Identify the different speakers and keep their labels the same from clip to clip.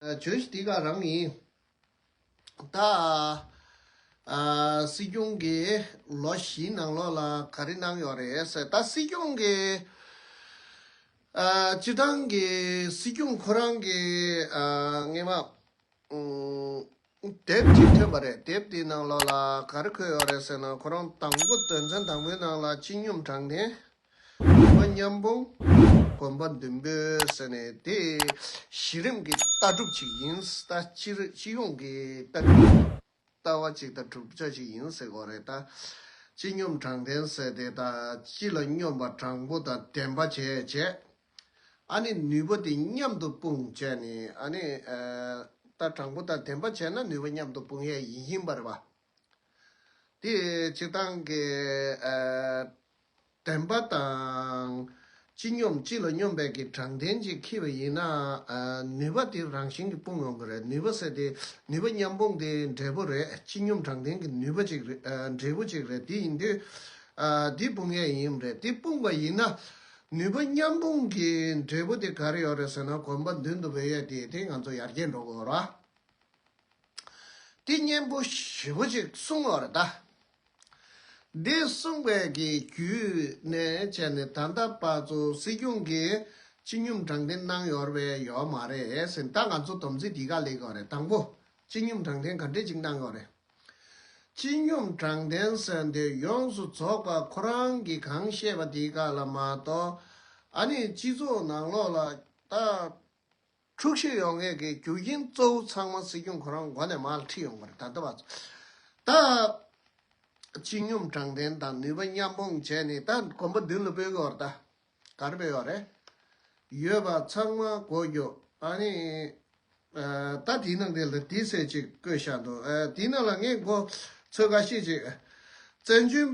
Speaker 1: བྱོས་ཤིག་འདི་ག་རང་ཡིན། ད་སྲིད་སྐྱོང་གི་ལོ་བཞིའི་ནང་ལོགས་ལ་ག་རེ་གནང་ཡོད་རེད་ཟེར་ད་སྲིད་སྐྱོང་གི་སྤྱི་བཏང་གི་སྲིད་སྐྱོང་ཁོ་རང་གི་ངེས་མ། དེབ་ཅིག་ཐོན་པ་རེད་དེབ་དེའི་ནང་ལོགས་ལ་ག་རེ་འཁོད་ཡོད་རེད་ཟེར་ན་ཁོ་རང་དང་པོ་དོན་ཚན་དང་པོའི་ནང་ལ་སྤྱི་སྙོམས་དྲང་བདེན། དགོན་པ་མཉམ་སྤུངས། དགོན་པ་བདུན་པོའི་ཟེར་ནས་དེ་གཞི་རིམ་གྱི་ལྟ་གྲུབ་ཅིག་ཡིན་ལྟ་སྤྱི་ཡོངས་ཀྱི་ལྟ་གྲུབ་ལྟ་བ་ཅིག་ལྟ་གྲུབ་ཆ་ཅིག་ཡིན་ཟེར་གོ་རེད་ལྟ་སྤྱི་སྙོམས་དྲང་བདེན་ཟེར་དེ་ལྟ་སྤྱི་ལ་སྙོམས་པ་དྲང་པོ་དང་བདེན་པ་བྱས་རྗེས། ཨ་ནི་ནུས་པ་དེ་མཉམ་དུ་སྤུངས་བྱས་ནས་ཨ་ནི། ལྟར་དྲང་པོ་དང་ལྡན་པ་བྱས་ན་ནུས་པ་མཉམ་དུ་སྤུངས་ཡས་ཡིན་བཞིན་པར་བ། དེ་སྤྱི་དང་གི། དྲན་པ་དང། སྤྱི་སྙོམས་སྤྱི་ལ་སྙོམས་པའི་གི་དྲང་ལྡན་གྱིས་འཁྱིལ་བ་ཡིན་ན། ནུས་པ་དེ་རང་བཞིན་གྱིས་སྤུངས་ཡོང་གི་རེད་ནུས་པ་ཟེར་དེ་ནུས་པ་མཉམ་སྤུངས་དེ་འབྲས་བུ་རེད་སྤྱི་སྙོམས་དྲང་ལྡན་གྱི་ནུས་པ་ཅིག་རེད་འབྲས་བུ་ཅིག་རེད་དེ་ཡིན་དུས། དེ་སྤུངས་ཡས་ཡིན་རེད་དེ་སྤུངས་པ་ཡིན་ན། ནུས་པ་མཉམ་སྤུངས་ཀྱི་འབྲས་བུ་དེ་ག་རེ་ཡོད་རེད་ཟེར་ན་གོམ་པ་མདུན་དུ་འབོད་ཡས་དེ་དེ་ང་ཚོ་ཡར་རྒྱས་འགྲོ་དགོས་ར། དེ་སྙན་པོ་ཞེ་པོ་ཅིག་གསུངས་བ་རེད་ད། འདི་གསུངས་པའི་གི་བརྒྱུད་ནས་བྱས་ནས་ད་ལྟ་བར་ཚོ་སྲིད་སྐྱོང་གི་སྤྱི་སྙོམས་དྲང་བདེན་གནང་ཡོད་རེད་ཡོད་མ་རེད་ཟེར་ད་ང་ཚོ་དོམ་ཚིག་འདི་ག་ལེགས་ཡོད་རེད་དང་པོ་སྤྱི་སྙོམས་དྲང་བདེན་ག་འདྲེ་ཅིག་གནང་ཡོད་རེད། སྤྱི་སྙོམས་དྲང་བདེན་གསལ་འདོད་ཡོངས་སུ་རྫོགས་པ་ཁོ་རང་གིས་གང་བཤད་པ་དེ་ག་ལ་མ་གཏོགས་ཨ་ནི་སྤྱི་ཚོགས་ནང་ལོག་ལ་ལྟ་འཁྲུག་ཤི་ཡོང་མཁན་གྱི་རྒྱུ་རྐྱེན་གཙོ་བོ་ཚང་མ་སྲིད་སྐྱོང་ཁོ་རང་མགོ་ནས་མར་ཁྲིད་ཡོང་པར་ད་ལྟ་བ་ད་སྤྱི་སྙོམས་དྲང་བདེན་དང་ནུས་པ་མཉམ་སྤུངས་བྱས་ནས་ད་གོམ་པ་མདུན་ལ་སྤོས་དགོས་བར་ད། གར་འབེལ་བ་རེད། ཡོད་པ་ཚང་མ་གོ་རྒྱུ། ཨ་ནི། ད་དེའི་ནང་དེ་ལ་དེའི་ཟེར་ཅིག་བཀོད་བཞག་འདུག་ཨ་དེའི་ནང་ལ་ངས་མགོ་ཚོས་ག་ཤེད་ཅིག། བཙན་བྱོལ།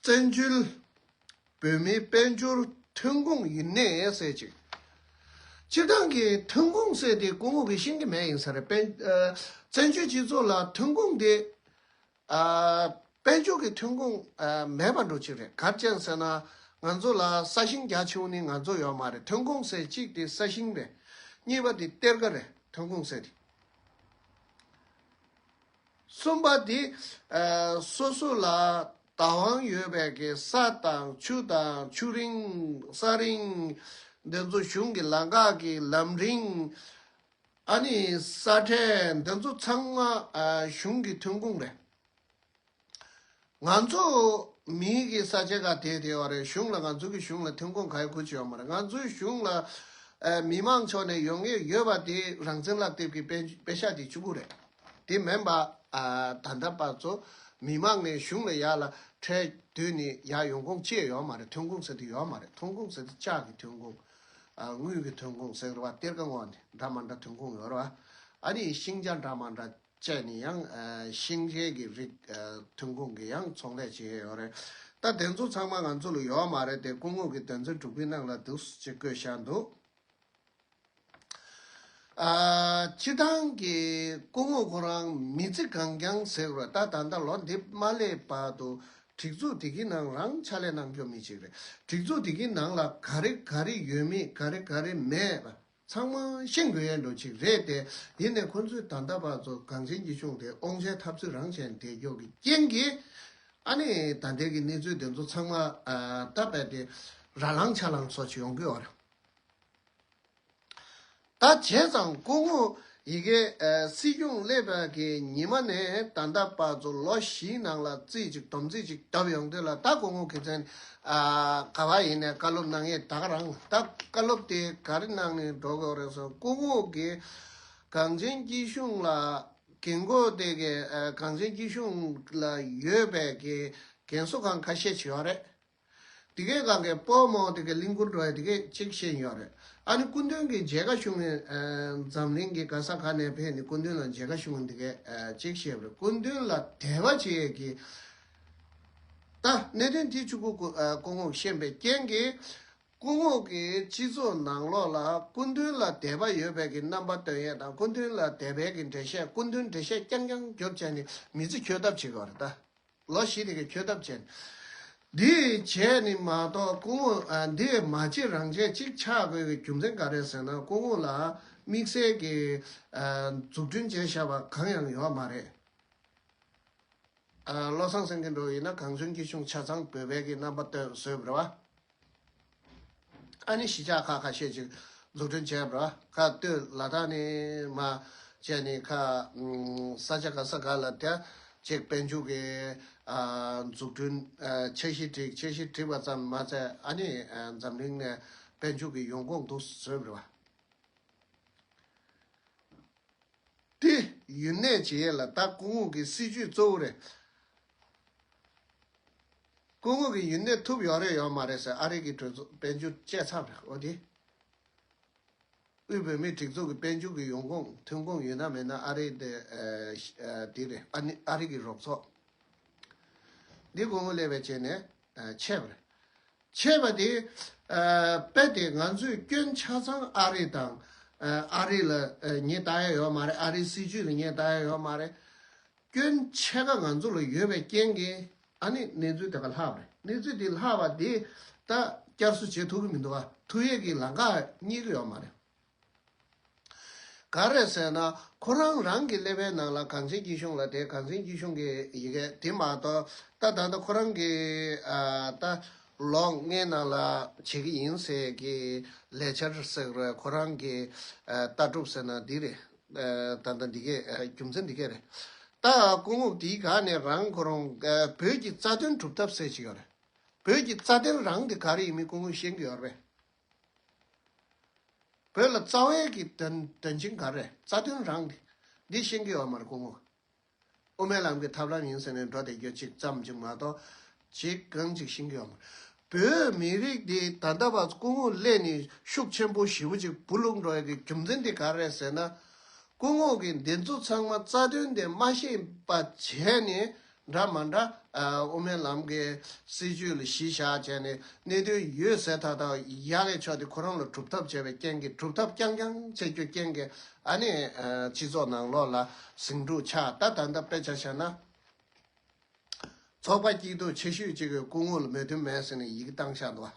Speaker 1: བཙན་བྱོལ། བོད་མིའི་དཔལ་འབྱོར་ཐོན་ཁུངས་ཡིན་ནས་ཟེར་ཅིག། སྤྱིར་བཏང་གི་ཐོན་ཁུངས་ཟེར་དེ་སྐུ་ངོ་གི་ཤིང་གི་མེ་ཡིན་ས་རེད། བཙན་བྱོལ་སྤྱི་ཚོགས་ལ་ཐོན་ཁུངས་དེ། དཔལ་འབྱོར་གྱི་ཐོན་ཁུངས་མེད་པར་འགྲོ་གཅིག་རེད་གར་ཅན་ཟེར་ན་ང་ཚོ་ལ་ས་ཞིང་རྒྱ་ཆེ་བོ་ནི་ང་ཚོ་ཡོད་མ་རེད་ཐོན་ཁུངས་ཟེར་གཅིག་དེ་ས་ཞིང་རེད་གཉིས་པ་དེ་གཏེར་ཁ་རེད་ཐོན་ཁུངས་ཟེར་དེ། གསུམ་པ་དེ་སོ་སོ་ལ་བདག་དབང་ཡོད་པའི་གི་ས་དང་ཆུ་དང་ཆུ་རིན་ས་རིན་འདི་ཚོ་གཞུང་གི་ལ་འགག་གི་ལམ་རིན་ཨ་ནི་ས་ཁྲལ་འདི་ཚོ་ཚང་མ་གཞུང་གི་ཐོན་ཁུངས་རེད། ང་ཚོ་མིའི་གི་ས་ཆ་ག་དེ་དེ་བ་རེད་གཞུང་ལ་ང་ཚོ་གི་གཞུང་ལ་ཐོན་ཁུངས་ག་ཡོད་གུས་བྱས་བ་མ་རེད་ང་ཚོའི་གཞུང་ལ་མི་མང་ཕྱོགས་ནས་ཡོང་ངེས་ཡོད་བ་དེ་རང་བཙན་ལག་དེབ་གི་པེ་ཤ་དེ་བཅུ་དགུ་རེད་དེ་མེན་པ་ད་ལྟ་བར་ཚོ་མི་མང་ནས་གཞུང་ལ་ཡག་ལ་ཁྲལ་དུས་ནས་ཡག་ཡོང་ཁུངས་ཅེས་ཡོད་བ་མ་རེད་ཐོན་ཁུངས་ཟེར་དེ་ཡོད་བ་མ་རེད་ཐོན་ཁུངས་ཟེར་དེ་ལྕགས་གི་ཐོན་ཁུངས། དངུལ་གྱི་ཐོན་ཁུངས་ཟེར་བ་གཏེར་ཁ་འོག་ནས་འདྲ་མ་འདྲ་ཐོན་ཁུངས་ཡོད་ར། ཨ་རིའི་ཤིང་ཆ་འདྲ་མ་འདྲ་སྤྱད་ནས་ཡང་ཤིང་ཤེལ་གྱི་རིགས་ཐོན་ཁུངས་ཀྱི་ཡང་ཚོང་ལས་བྱེད་ཡོད་རེད། ད་དེ་ཚོ་ཚང་མ་ང་ཚོ་ལ་ཡོད་མ་རེད་དེ་སྐུ་ངོ་གི་དོན་ཚན་དྲུག་པའི་ནང་ལ་འདུག་ཅེས་བཀོད་བཞག་འདུག། སྤྱི་བཏང་གི་སྐུ་ངོ་ཁོ་རང་མི་ཚེ་གང་བསྐྱངས་ཟེར་བ་ད་ད་ལྟ་ལོ་འདི་མ་སླེབས་བར་དུ་སྒྲིག་འཛུགས་དེ་གི་ནང་རང་ཕྱག་ལས་གནང་སྐྱོང་མི་བྱེད་རེད་སྒྲིག་འཛུགས་དེ་གི་ནང་ལ་ག་རེ་ག་རེ་ཡོད་མེད་ག་རེ་ག་རེ་མེད་པ་ཚང་མ་ཤེས་དགོས་ཡས་འགྲོ་ཅིག་རེད་དེ་ཡིན་ནས་ཁོ་ཚོའི་ད་ལྟ་བར་ཚོ་གངས་ཅན་གྱི་གཞུང་དེ་ཨོང་ཆའི་ཐབས་ཚུལ་རང་བྱས་འདེད་འགྱོག་གི་རྐྱེན་གི་ཨ་ནི་ད་ལྟའི་གི་གནས་ཚུལ་དེ་ཚོ་ཚང་མ་ད་བས་དེ་ར་ལང་ཆ་ལང་སོགས་ཆེ་ཡོང་གི་ཨོ་ར། ད་བྱས་ཙང་སྐུ་ངོ་ཡི་གེ། སྲིད་སྐྱོང་སླེབས་པ་གི་ཉི་མ་ནས་ད་ལྟ་བར་དུ་ལོ་བཞིའི་ནང་ལ་རྩིས་གཅིག་དོམ་རྩིས་གཅིག་བཏབ་ཡོང་དུས་ལ་ད་སྐུ་ངོ་གི་མཚན་ག་བ་ཡིན་ནས་བཀའ་སློབ་གནང་ཡས་དག་རང་ད་བཀའ་སློབ་དེ་ག་རེ་གནང་ནས་འགྲོ་དགོས་རེད་སོང་སྐུ་ངོ་གི་གངས་ཅན་སྐྱིད་གཤོངས་ལ་གི་མགོ་དེ་གི་གངས་ཅན་སྐྱིད་གཤོངས་ལ་ཡོད་པའི་གི་གན་གསོ་ཁང་ཁ་ཤས་བྱས་བ་རེད། དེ་སྐད་ག་གེ་པོ་མོ་དེ་གེ་ལིང་ཀུར་འགྲོ་བས་དེ་སྐད་ཅིག་བཤད་ཡིན་ཡོད་རེད་ཨ་ནི་སྐུ་མདུན་གྱི་མཇལ་ཁ་ཞུ་ནས་འཛམ་གླིང་གི་ག་ས་ག་ནས་ཕེབས་ནས་སྐུ་མདུན་ལ་མཇལ་ཁ་ཞུ་ནས་དེ་སྐད་ཅིག་བཤད་ཡོད་རེད་སྐུ་མདུན་ལ་དད་པ་བྱེད་ཡོད་ཀི་ད་གནད་དོན་དེ་བཅུ་དགུ་སྐུ་ངོགས་ཤན་པའི་རྐྱེན་གྱིས་སྐུ་ངོགས་ཀྱི་སྤྱི་ཚོགས་ནང་ལོགས་ལ་སྐུ་མདུན་ལ་དད་པ་ཡོད་པའི་གྱི་རྣམ་པ་སྟོན་ཡས་དང་སྐུ་མདུན་ལ་དད་པའི་གྱི་འགྲེལ་བཤད་སྐུ་མདུན་འགྲེལ་བཤད་རྐྱང་རྐྱང་རྒྱོབ་བྱས་ནས་མི་ཚེ་འཁྱོལ་ཐབས་བྱེད་དགོས་རེད་ད། ལོ་བཞི་རེ་གི་འཁྱོལ་ཐབས་བྱས། འདི་བྱས་ནི་མ་གཏོགས་སྐུ་ངོ་འདི་མ་བྱེད་རང་བྱེད་ཅིག་ཆགས་དགོས་ཀྱི་རྒྱུ་མཚན་ག་རེ་ཟེར་ན་སྐུ་ངོ་ལ་དམིགས་བསལ་གྱི་འཛུགས་སྐྲུན་བྱས་བཞག་པ་གང་ཡང་ཡོད་མ་རེད། བློ་བཟང་སེང་གེ་འགྲོ་ཡིན་ན་གངས་ལྗོངས་སྐྱིད་གཤོངས་ཆ་ཚང་བོད་བལ་གྱི་རྣམ་པ་སྟོན་བཟོས་པ་རེད། ཨ་ནི་གཞིས་ཆགས་ཁག་ཁ་ཤས་ཀྱིས་འཛུགས་སྐྲུན་བྱས་པར་ཁ་བཏོད་ལ་ད་ནི་མ་བྱས་ནས་ཁ་ས་ཆ་ག་ས་ག་ལ་བསྡད་ཅེས་དཔལ་འབྱོར་གྱི་འཛུགས་སྐྲུན་འཆར་གཞི་བསྒྲིགས་འཆར་གཞི་བསྒྲིགས་པ་ཙམ་མ་ཟད་ཨ་ནི་འཛམ་གླིང་ནས་དཔལ་འབྱོར་གྱི་ཡོང་སྒོ་འདུག་ཟེར་བ་སྟེ། ཡུན་ནན་བྱེས་ལ་དྭགས་སྐུ་ངོ་གི་སྲིད་ཇུས་གཙོ་བོ་རེད། སྐུ་ངོ་གི་ཡུན་གནས་ཐུབ་ཡོང་རེ་ཡོང་མ་རེད་ཟེར་ཨ་རིག་གི་གྲོས་ཚོགས་དཔལ་འབྱོར་དཔྱད་ཚབ་རེད་ཨོ་དེ། དབུས་བོད་མིའི་སྒྲིག་འཛུགས་ཀྱི་དཔལ་འབྱོར་གྱི་ཡོང་ཁུངས་ཐོན་ཁུངས་ཡོད་ན་མེད་ན་ཨ་རིག་དེ་དེ་རེད་ཨ་ནི་ཨ་རིག་གི་རོགས་ཚོགས། འདི་དགོང་མོ་ལས་བས་བྱས་ནས་ཆད་པ་རེད། ཆད་པ་དེ་པད་དེ་ང་ཚོས་སྐྱོན་ཆ་ཚང་ཨ་རིག་དང་ཨ་རིག་ལ་ཉེས་བཏགས་ཡ་ཡོད་མ་རེད་ཨ་རིག་སྲིད་ཇུས་ལ་ཉེས་བཏགས་ཡ་ཡོད་མ་རེད། སྐྱོན་ཆེ་ག་ང་ཚོ་ལ་ཡོད་པའི་རྐྱེན་གྱིས་ཨ་ནི་གནས་ཚུལ་དེ་ག་ལྷག་པ་རེད་གནས་ཚུལ་དེ་ལྷག་པ་དེ་ད་བསྐྱར་གསོ་བྱེད་ཐུབ་ཀྱི་མི་འདུག་ཐུགས་ཡིད་ཀྱི་ལངས་ཀ་རྙེད་ཀྱི་ཡོད་མ་རེད། ག་རེད་ཟེར་ན་ཁོ་རང་རང་གི་ཀླད་པའི་ནང་ལ་གངས་ཅན་སྐྱིད་གཤོངས་ལ་དེ་གངས་ཅན་སྐྱིད་གཤོངས་ཀྱི་ཡི་གེ་དེ་མ་གཏོགས་ད་ད་ལྟ་ཁོ་རང་གི་ད་ལོ་ལྔའི་ནང་ལ་བྱེད་ཀྱི་ཡིན་ཟེར་གྱི་ལས་འཆར་ཟེར་ཁོ་རང་གི་ལྟ་གྲུབ་ཟེར་ན་འདི་རེད། ད་ལྟ་འདི་གའི་རྒྱུ་མཚན་འདི་གས་རེད། ད་སྐུ་ངོ་འདིའི་དགའ་ནས་རང་ཁོ་རང་བོད་ཀྱི་རྩ་དོན་གྲུབ་ཐབས་སེ་ཆི་ཡོད་རེད། བོད་ཀྱི་རྩ་དོན་རང་དེ་ག་རེ་ཡིན་མིན་སྐུ་ངོས་ཤེས་གི་ཡོད་རེད། བོད་ལ་རྩ་བའི་གི་དོན་དོན་ཆེན་ག་རེ་རེད་རྩ་དོན་རང་དེ་འདི་ཤེས་གི་ཡོད་མ་རེད་སྐུ་ངོ། དབུ་མའི་ལམ་གྱི་ཐབས་ལམ་ཡིན་ཟེར་ནས་འགྲོ་བསྡད་རྒྱུ་ཅིག་ཙམ་གྱིས་མ་གཏོགས་ཅིག་གང་ཅིག་ཤེས་ཀྱི་ཡོད་མ་རེད། བོད་མི་རིགས་འདི་ད་ལྟ་བར་སྐུ་ངོ་ཀླད་ནི་ཤུགས་ཆེན་པོ་ཞེ་བོ་ཅིག་བུ་ལུག་འགྲོ་ཡ་གི་རྒྱུ་མཚན་དེ་ག་རེད་ཟེར་ན། སྐུ་ངོ་གི་འདི་ཚོ་ཚང་མ་རྩ་དོན་དེ་མ་ཤེས་པ་བྱས་ནས་འདྲ་མ་འདྲ་དབུ་མའི་ལམ་གྱི་སྲིད་ཇུས་ལ་གཞི་བཞག་བྱས་ནས་གནད་དོན་ཡོད་ཟེར་ཐག་ཐག་ཡ་ལས་ཆོག་དེ་ཁོ་རང་ལ་གྲུབ་ཐབས་བྱས་པའི་རྐྱེན་གྱིས་གྲུབ་ཐབས་རྐྱང་རྐྱང་བྱེད་རྒྱུ་རྐྱེན་གྱིས་ཨ་ནི། སྤྱི་ཚོགས་ནང་ལོགས་ལ་ཟིང་འཁྲུག་ཆགས་ད་ད་ལྟ་དཔེ་ཆ་བཤད་ན། ཚོགས་པ་སྐྱིད་སྡུག་ཆེ་ཤོས་གཅིག་གི་སྐུ་ངོ་ལ་མོས་མཐུན་མེད་ཟེར་ནས་ཡིག་གཏང་བཞག་འདུག་བ།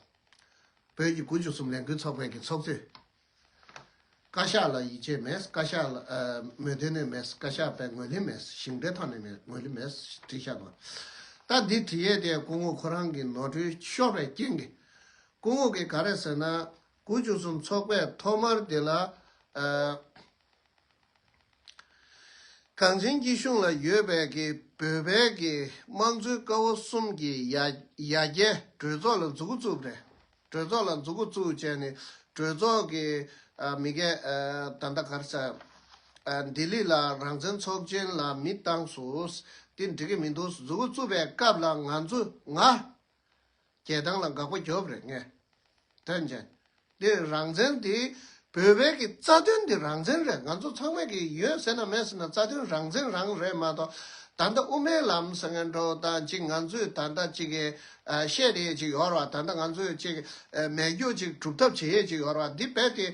Speaker 1: བོད་ཀྱི་དགུ་བཅུ་གསུམ་ལས་འགུལ་ཚོགས་པའི་གི་ཚོགས་གཙོས། བཀའ་ཤག་ལ་ཡིད་ཆེས་མེད་བཀའ་ཤག་ལ་མོས་མཐུན་ནས་མེད་བཀའ་ཤག་པས་ངོས་ལེན་མེད་ཞིང་འབྲེལ་ཐང་ནས་མེད་ངོས་ལེན་མེད་བྲིས་བཞག་འདུག་བ། ད་འདི་བྲིས་ཡས་དེ་སྐུ་ངོ་ཁོ་རང་གི་ནོར་འཁྲུལ་ཤོར་བའི་རྐྱེན་གི། སྐུ་ངོ་གི་ག་རེ་ཟེར་ན། དགུ་བཅུ་གསུམ་ཚོགས་པའི་ཐོག་མར་དེ་ལ། གངས་ཅན་སྐྱིད་གཤོངས་ལ་ཡོད་པའི་གི་བོད་བལ་གི་དམངས་གཙོའི་སྐ་བོ་གསུམ་གྱི་ཡ་ཡ་གྱལ་གྲོས་ཚོགས་ལ་འཛུགས་བཙུགས་པ་རེད། གྲོས་ཚོགས་ལ་འཛུགས་བཙུགས་བྱས་ནས་གྲོས་ཚོགས་ཀྱི་མི་ག་ད་ད་གར་ས་ལྡི་ལི་ལ་རང་བཙན་ཚོགས་ཆེན་ལ་མི་བཏང་སུ་དེ་འགྲིག་གི་མི་འདུག་འཛུགས་བཙུགས་པའི་སྐབས་ལ་ང་ཚོ་ང་རྒྱལ་ཐང་ལ་འགག་པ་རྒྱོབ་རེད་ངས་དོན་བྱས། འདི་རང་བཙན་འདི་བོད་བལ་གི་རྩ་དོན་འདི་རང་བཙན་རེད་ང་ཚོ་ཚང་མས་གི་ཡོད་ཟེར་ན་མེད་ཟེར་ན་རྩ་དོན་རང་བཙན་རང་རེད་མ་གཏོགས་ད་ལྟ་དབུ་མའི་ལམ་ཟེར་མཁན་འགྲོ་ད་ཅིག་ང་ཚོས་ད་ལྟ་ཅིག་གི་བཤད་དེ་ཡོད་ཅིག་ཡོར་བ་ད་ལྟ་ང་ཚོས་ཅིག་མེད་རྒྱུ་ཅིག་གྲུབ་ཐབས་བྱེད་ཡོད་ཅིག་ཡོར་བ་འདི་རྦད་དེ་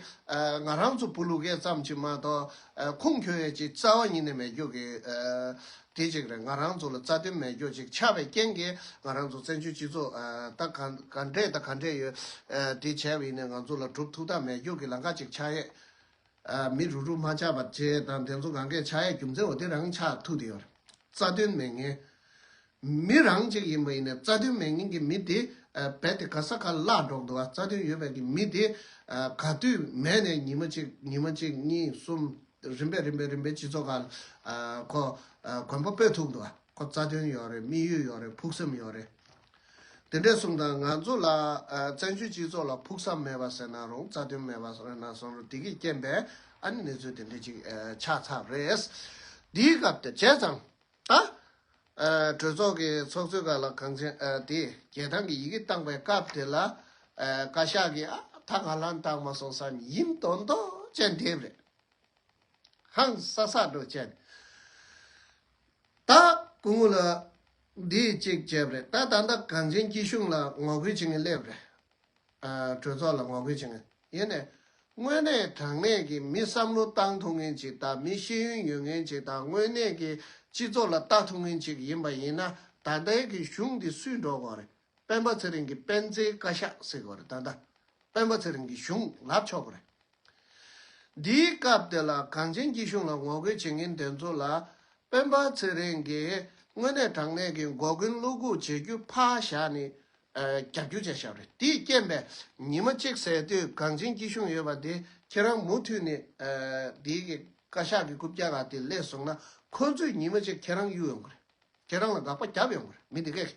Speaker 1: ང་རང་ཚོ་བུ་ལུ་གས་ཙམ་ཅིག་མ་གཏོགས་ཁུངས་འཁྱོལ་ཡོད་ཅིག་རྩ་བ་ཉིད་ནས་མེད་རྒྱུ་གི་དེ་གཅིག་རེད་ང་རང་ཚོ་ལ་རྩ་དོན་མེད་སྐྱོ་ཅིག་ཆགས་པའི་རྐྱེན་གྱིས་ང་རང་ཚོ་བཙན་བྱོལ་སྤྱི་ཚོགས་ད་ག་འདྲས་ད་ག་འདྲས་ཡོད་དེ་བྱས་བས་ནས་ང་ཚོ་ལ་གྲུབ་ཐུགས་ཐག་མེད་སྐྱོ་གི་ལང་ཀ་ཅིག་ཆགས་ཡས། མི་རུ་རུ་མ་ཆགས་པར་བྱས་དང་དེ་ཚོ་གང་གས་ཆགས་ཡས་རྒྱུ་མཚན་འོ་དེ་རང་ཆགས་ཐུགས་དེ་ཡོད་རེད་རྩ་དོན་མེད་ངན། མི་རང་གཅིག་ཡིན་པ་ཡིན་ནས་རྩ་དོན་མེད་ངན་གྱི་མི་དེ་རྦད་དེ་ག་ས་ག་ལ་ལགས་འགྲོ་འདུག་ཨ་རྩ་དོན་ཡོད་པའི་གི་མི་དེ་ག་དུས་མས་ནས་ཉིན་མ་གཅིག་ཉིན་མ་གཅིག་གཉིས་གསུམ། རིམ་པས་རིམ་པས་རིམ་པས་སྤྱི་ཚོགས་ཁག་ལ། ཁོ། གོན་པ་སྤོས་ཐུབ་འདུག་ཁོ་རྩ་དོན་ཡོད་རེད་དམིགས་ཡུལ་ཡོད་རེད་ཕུགས་བསམ་ཡོད་རེད། དེ་འདྲས་གསུངས་དང་ང་ཚོ་ལ། བཙན་བྱོལ་སྤྱི་ཚོགས་ལ་ཕུགས་བསམ་མེད་པ་ཟེར་ན་རུང་རྩ་དོན་མེད་པ་ཟེར་ན་སོང་རུང་དེ་གི་རྐྱེན་པས་ཨ་ནི་གནས་ཚུལ་དེ་འདྲས་ཅིག་ཆགས་ཚར་རེད། དེའི་སྐབས་དེ་བྱས་ཙང། ད། གྲོས་ཚོགས་ཀྱི་ཚོགས་གཙོས་བཀའ་ལ་གང་ཆེན་དེས་རྒྱལ་ཐང་གི་ཡི་གེ་བཏགས་པའི་སྐབས་དེ་ལ། བཀའ་ཤག་གིས་ཨ་ད་ང་ལ་བཏགས་མ་སོང་ས་ནི་ཡིན་མདོག་མདོག་ཅན་དེ་རེད། ཧང་ས་ས་འགྲོ་ཅན། ད། སྐུ་ངོ་ལ། འདི་གཅིག་བྱས་པ་རེད་ད་ད་ལྟ་གང་ཆེན་སྐྱིད་གཤོངས་ལ་ངོ་རྒོལ་བྱེད་ངེས་སླེབས་རེད། གྲོས་ཚོགས་ལ་ངོ་རྒོལ་བྱེད་ངེས། ཡེ་ནས། དངོས་གནས་དྲང་གནས་ཀྱི་མི་བསམ་བློ་བཏང་ཐུབ་མཁན་ཅིག་དང་མི་ཤེས་ཡོན་ཡོད་མཁན་ཅིག་དང་དངོས་གནས་ཀྱི་སྤྱི་ཚོགས་ལ་ལྟ་ཐུབ་མཁན་ཅིག་ཡིན་པ་ཡིན་ན་ད་ལྟའི་གི་གཞུང་འདི་སུས་འགྲོ་དགོས་རེད་སྤེན་པ་ཚེ་རིང་གི་སྤེན་ཚེའི་བཀའ་ཤག་ཟེར་དགོས་རེད་ད་ལྟ་སྤེན་པ་ཚེ་རིང་གི་གཞུང་ལབ་ཆོག་གི་རེད། འདིའི་སྐབས་དེ་ལ་གངས་ཅན་སྐྱིད་གཞུང་ལ་ངོ་རྒོལ་བྱེད་མཁན་དེ་ཚོ་ལ་སྤེན་པ་ཚེ་རིང་གིས་དངོས་གནས་དྲང་གནས་ཀྱི་འགོ་རྒོལ་བློ་འགུག་བྱེད་རྒྱུ་ཕ་ཞག་ནི་རྒྱ་རྒྱུ་བྱ་ཞབས་རེད་དེའི་རྐྱེན་པས་ཉིན་མ་གཅིག་ཟས་དུས་གངས་ཅན་སྐྱིད་གཤོངས་ཡོད་པ་དེ་ཁྱེད་རང་མུ་མཐུད་ནས་དེའི་གི་བཀའ་ཤག་གི་རྐུབ་བཀྱག་ག་དེ་ལས་བཟུང་ན་ཁོ་ཚོས་ཉིན་མ་གཅིག་ཁྱེད་རང་གཡུག་ཡོང་གི་རེད་ཁྱེད་རང་ལ་དགག་པ་བརྒྱབ་ཡོང་གི་རེད་མི་དེ་གས་གས་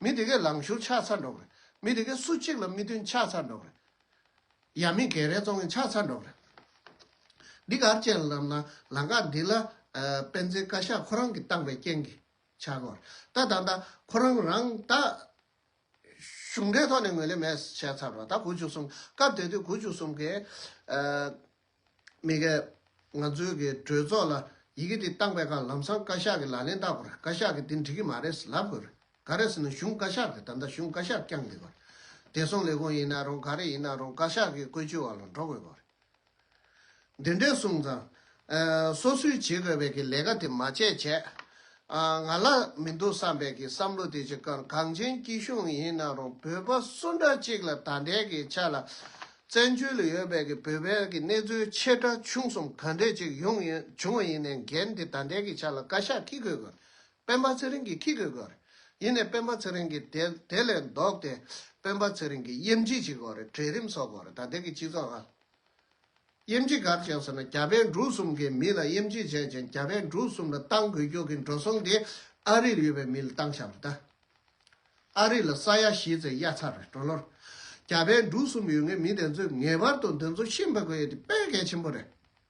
Speaker 1: མི་དེ་གས་ལངས་ཤོར་ཆགས་ཚར་འགྲོ་གི་རེད་མི་དེ་གས་སུ་གཅིག་ལ་མི་མཐུན་ཆགས་ཚར་འགྲོ་གི་རེད་ཡ་མི་གས་རས་བཙོང་གིན་ཆགས་ཚར་འགྲོ་གི་རེད་འདི་གར་བཅས་ལབ་ན་ལང་ཀ་འདི་ལ་སྤེན་ཚེའི་བཀའ་ཤག་ཁོ་རང་གིས་བཏང་པའི་རྐྱེན་གིས་འཆར་བར་ལྟ་ད་ལྟ་ཁོ་རང་རང་ད་གཞུང་འབྲེལ་ཐོག་ནས་ངོས་ལེན་མེད་བྱས་ཚར་བ་ད་དགུ་བཅུ་གསུམ་སྐབས་དེ་དུས་དགུ་བཅུ་གསུམ་གའི་མི་གའི་ང་ཚོའི་གི་གྲོས་ཚོགས་ལ་ཡི་གེ་འདི་བཏང་པའི་ཁར་ལམ་སང་བཀའ་ཤག་གི་ལག་ལེན་བལྟ་དགོས་རེད་བཀའ་ཤག་གི་འདི་འགྲིག་གི་མ་རེད་ལབ་དགོས་རེད་ག་རེ་ཟེར་ན་གཞུང་བཀའ་ཤག་རེད་ད་ལྟ་གཞུང་བཀའ་ཤག་བསྐྱངས་དགོས་པ་རེད་བདེ་སྲུང་ལས་ཁུངས་ཡིན་ན་རུང་ག་རེ་ཡིན་ན་རུང་བཀའ་ཤག་གི་བཀོད་ཇུས་བར་ལ་འགྲོ་དགོས་པ་རེད། འདི་འདྲས་གསུངས་ཙང། སོ་སོའི་བྱེད་དགོས་པའི་གི་ལས་ཀ་དེ་མ་བྱས་བྱས། ང་ལ་མི་འདུག་བསམ་པའི་གི་བསམ་བློ་དེ་ཅིག་ཀང་གངས་ཅན་སྐྱིད་གཤོངས་ཡིན་ན་རུང་བོད་པ་སུ་འདྲ་ཅིག་ལ་ད་འདྲས་གི་ཆ་ལ་བཙན་བྱོལ་ཡོད་པའི་གི་བོད་པའི་གི་གནས་ཚུལ་ཆེ་ཕྲ་ཆུང་གསུམ་ག་འདྲས་ཅིག་ཡོང་ཡོང་བ་ཡིན་ནའི་འགན་དེ་ད་འདྲས་གི་ཆ་ལ་བཀའ་ཤག་གིས་གོས་དགོས་སྤེན་པ་ཚེ་རིང་གིས་ཁྱི་གོས་དགོས་རེད། ཡིན་ནས་སྤེན་པ་ཚེ་རིང་གིས་དེ་དེ་ལས་ལྡོག་སྟེ། སྤེན་པ་ཚེ་རིང་གིས་དབྱེ་འབྱེད་བྱེད་དགོས་རེད་གྲལ་རིམ་བཟོ་དགོས་རེད་ད་དེ་གི་སྤྱི་ཚོགས་ཨ། དབྱེ་འབྱེད་གར་བྱས་ཟེར་ན་རྒྱ་བལ་འབྲུག་གསུམ་གའི་མི་ལ་དབྱེ་འབྱེད་བྱས་ཅིང་རྒྱ་བལ་འབྲུག་གསུམ་ལ་བཏང་དགོས་རྒྱུ་གི་འགྲོ་སོང་དེ་ཨ་རིར་ཡོད་པའི་མི་ལ་བཏང་ཤག་རེད་ད། ཨ་རི་ལ་ས་ཡ་བཞི་ཚེ་གཡའ་ཚར་རེད་འགྲོ་ལོར། རྒྱ་བལ་འབྲུག་གསུམ་ཡོད་ངེས་མི་དེ་ཚོས་ངེས་པར་དུ་འདི་ཚོ་ཤི་འཕོས་དགོས་ཡོད་དེ་དཔེ་གལ་ཆེན་པོ་རེད།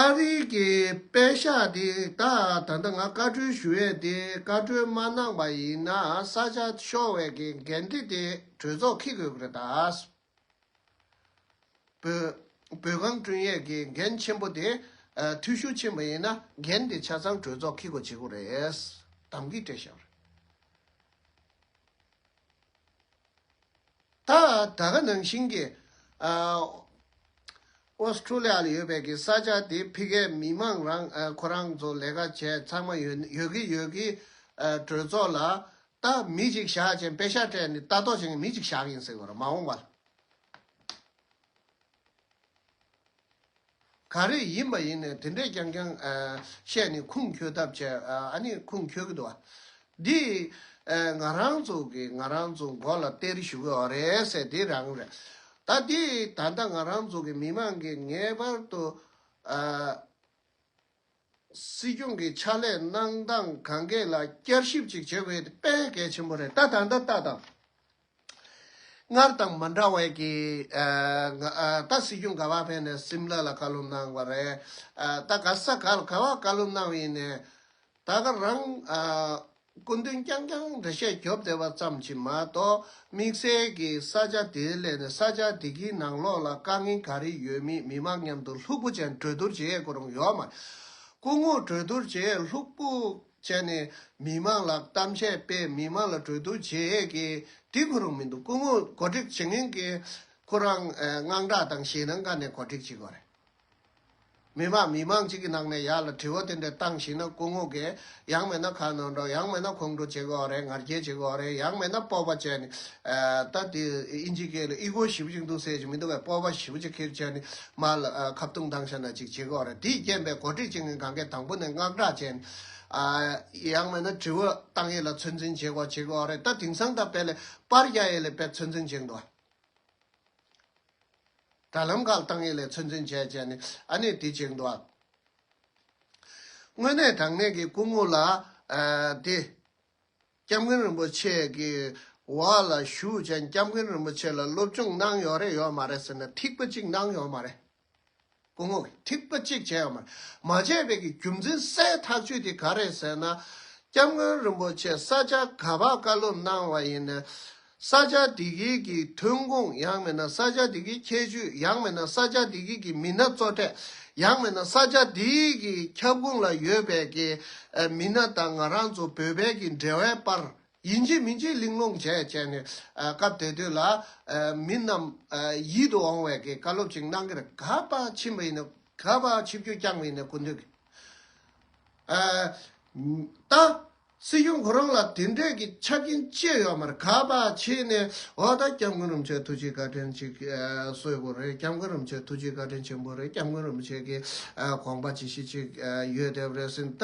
Speaker 1: ཨ་རི་གི་པད་ཤག་དེ་ད་ད་ལྟ་ང་བཀའ་ཁྲོལ་ཞུ་ཡས་དེ་བཀའ་ཁྲོལ་མ་གནང་པ་ཡིན་ན་ས་ཆ་ཤོར་བས་གི་འགན་དེ་དེ་གྲོས་ཚོགས་ཁི་དགོས་གི་རེད་དཱ། བོད་བོད་གངས་བསྐྲུན་ཡས་གི་འགན་ཆེན་པོ་དེ་འཐུས་ཤུགས་ཆེན་པོ་ཡིན་ན་འགན་དེ་ཆ་ཚང་གྲོས་ཚོགས་ཁི་དགོས་བྱེད་གི་རེད་དམ་གི་བཀྲེས་ཤག་རེད། ད་ལྟ་ནང་བཞིན་གྱི Australia ལ་ཡོད་པའི་གི་ས་ཆ་དེ་ཕི་གའི་མི་དམངས་རང་ཁོ་རང་ཚོ་ལས་ཀ་བྱས་ཚང་མ་ཡོད་ཡོད་གི་ཡོད་གི་གྲོས་ཚོགས་ལ་ད་མི་གཅིག་བཞག་ཅིང་པེ་ཤ་སྤྲད་ནས་ལྟ་རྟོག་བྱེད་མཁན་མི་གཅིག་བཞག་ཡིན་ཟེར་བར་མ་འོངས་པར། ག་རེ་ཡིན་པ་ཡིན་ནས་དེ་འདྲས་རྐྱང་རྐྱང་བཤད་ནས་ཁུངས་འཁྱོལ་ཐབས་བྱས་ཨ་ནི་ཁུངས་འཁྱོལ་གི་འདུག་བ། འདི་ང་རང་ཚོ་གི་ང་རང་ཚོ་མགོ་ལ་སྟེར་ཞུ་གི་འོ་རེད་ཟེར་དེ་རང་རེད། ད་འདི་ད་ལྟ་ང་རང་ཚོ་གི་མི་མང་གིས་ངེས་པར་དུ་སྲིད་སྐྱོང་གི་ཕྱག་ལས་གནང་སྟངས་གང་གཱའི་ལ་བསྐྱར་ཞིབ་ཅིག་བྱེད་དགོས་དེ་དཔེ་གལ་ཆེན་པོ་རེད་ད་ད་ལྟ་ལྟ་དང། སྔར་དང་མ་འདྲ་བས་ཀྱི། ད་སྲིད་སྐྱོང་ག་བ་ཕེབས་ནས་སིམ་ལ་ལ་བཀའ་སློབ་གནང་བ་རེད། ད་ག་ས་ག་ལ་ག་བ་བཀའ་སློབ་གནང་བ་ཡིན་ནས། ད་ག་རང། སྐུ་མདུན་རྐྱང་རྐྱང་འདྲ་བཤད་རྒྱོབ་བསྡད་པ་ཙམ་གྱིས་མ་གཏོགས་དམིགས་བསལ་གྱི་ས་ཆ་དེའི་སླད་ནས་ས་ཆ་དེ་གའི་ནང་ལོགས་ལ་དཀའ་ངལ་ག་རེ་ཡོད་མེད་མི་མང་མཉམ་དུ་ལྷུག་པོ་ཅན་གྲོས་བསྡུར་བྱེད་ཡས་ཁོ་རང་ཡོག་མ་རེད། སྐུ་ངོ་གྲོས་བསྡུར་བྱེད་ཡས་ལྷུག་པོ་བྱས་ནས་མི་མང་ལ་གཏམ་བཤད་སྤེལ་མི་མང་ལ་གྲོས་བསྡུར་བྱེད་ཡས་ཀྱི་དེ་ཁོ་རང་མི་འདུག་སྐུ་ངོ་གོ་སྒྲིག་བྱེད་མཁན་གྱི་ཁོ་རང་དངངས་སྐྲག་དང་ཞེད་སྣང་ཁ་ནས་གོ་སྒྲིག་བྱེད་དགོས་རེད། མི་དམངས་མི་དམངས་གཅིག་གི་ནང་ནས་ཡར་ལ་དྲི་བ་དེ་འདྲ་བཏང་ཞིག་ན་སྐུ་ངོ་གས་ཡང་མེད་ན་ཁ་ནོར་འགྲོ་ཡང་མེད་ན་ཁོང་ཁྲོ་བྱེད་དགོས་བ་རེད་ངར་སྐྱེལ་བྱེད་དགོས་བ་རེད་ཡང་མེད་ན་སྤོབས་པ་བྱས་ནས། ད་དེ་ཨིན་ཇི་སྐད་ལ་ཨི་གོ་ཞིབ་ཅིག་འདུག་ཟེར་ཞིག་མི་འདུག་བས་སྤོབས་པ་ཞིབ་བྱེད་ཁེར་བྱས་ནས་མར་ལ་ཁ་བཏུང་ཐང་ཤ་ན་ཅིག་བྱེད་དགོས་བ་རེད་དེས་རྐྱེན་པས་གོ་སྒྲིག་བྱེད་མཁན་གང་གས་དང་པོ་ནས་མངགས་བསྒྲགས་བྱས་ནས། ཡང་མེད་ན་དྲི་བ་བཏང་ཡས་ལ་ཚོད་འཛིན་བྱེད་དགོས་བ་བྱེད་དགོས་བ་རེད་ད་དེང་སང་ད་བལ་ལས་པར་རྒྱ་ཡས་ལས་པས་ཚོད་འཛིན་བྱེད་འདུག་བ། དྲ་ལམ་ཁག་ཏང་ཡོན་ལས་ཚོད་འཛིན་བྱས་བྱས་ནས་ཨ་ནེ་དེ་བྱེད་འགྲོ། དངོས་གནས་དྲང་གནས་ཀྱི་སྐུ་ངོ་ལ་དེ། སྐྱབས་མགོན་རིན་པོ་ཆེ་གི་འོག་ལ་བཞུགས་མཁན་སྐྱབས་མགོན་རིན་པོ་ཆེ་ལ་སློབ་སྦྱོང་གནང་ཡོད་རེད་ཡོད་མ་རེད་ཟེར་ན་ཐིག་པ་གཅིག་གནང་ཡོད་མ་རེད། སྐུ་ངོ་གིས་ཐིག་པ་གཅིག་བྱས་ཡོང་མ་བྱས་པའི་གི་རྒྱུ་མཚན་གསལ་ཐག་ཆོད་དེ་ག་རེད་ཟེར་ན། སྐྱབས་མགོན་རིན་པོ་ཆེ་ས་ཆ་ག་པར་བཀའ་སློབ་གནང་བ་ཡིན་ནའི། ས་ཆ་དེ་གའི་གི་ཐོན་ཁུངས་ཡང་མིན་ན་ས་ཆ་དེ་གའི་ཁྱད་ཆོས་ཡང་མིན་ན་ས་ཆ་དེ་གའི་གི་མི་སྣ་གཙོ་གྲས་ཡང་མིན་ན་ས་ཆ་དེ་གའི་ཁྱབ་ཁོངས་ལ་ཡོད་པའི་གི་མི་སྣ་དང་ང་རང་ཚོ་བོད་པའི་གི་འབྲེལ་བའི་པར་ཡིན་གྱི་མིན་གྱི་གླེང་སློང་བྱས་བྱས་ནས་སྐབས་དེ་དུས་ལ་མི་རྣམས་ཡིད་དུ་འོང་བའི་བཀའ་སློབ་ཅིག་གནང་གིར་ག་པ་ཕྱི་མི་ཡིན་ན་ག་པ་ཕྱི་བརྒྱུད་རྐྱང་མི་ཡིན་ན་གུ་འདུད་ཀྱི། ད་སྲིད་གཞུང་ཁོ་རང་ལ་དེ་འདྲས་ཀྱི་ཆ་རྐྱེན་བཅས་ཡོད་མར་ག་པ་ཕྱིན་ནས་འོ་ད་སྐྱབས་མགོན་རིན་ཆེན་ཐུགས་རྗེའི་བཀའ་དྲིན་ཅིག་གསོས་པོ་རེད་སྐྱབས་མགོན་རིན་ཆེན་ཐུགས་རྗེའི་བཀའ་དྲིན་ཆེན་པོ་རེད་སྐྱབས་མགོན་རིན་ཆེན་གྱི་དགོངས་པ་ཇི་བཞིན་ཅིག་ཡོད་དེ་རེད་ཟིན་ད་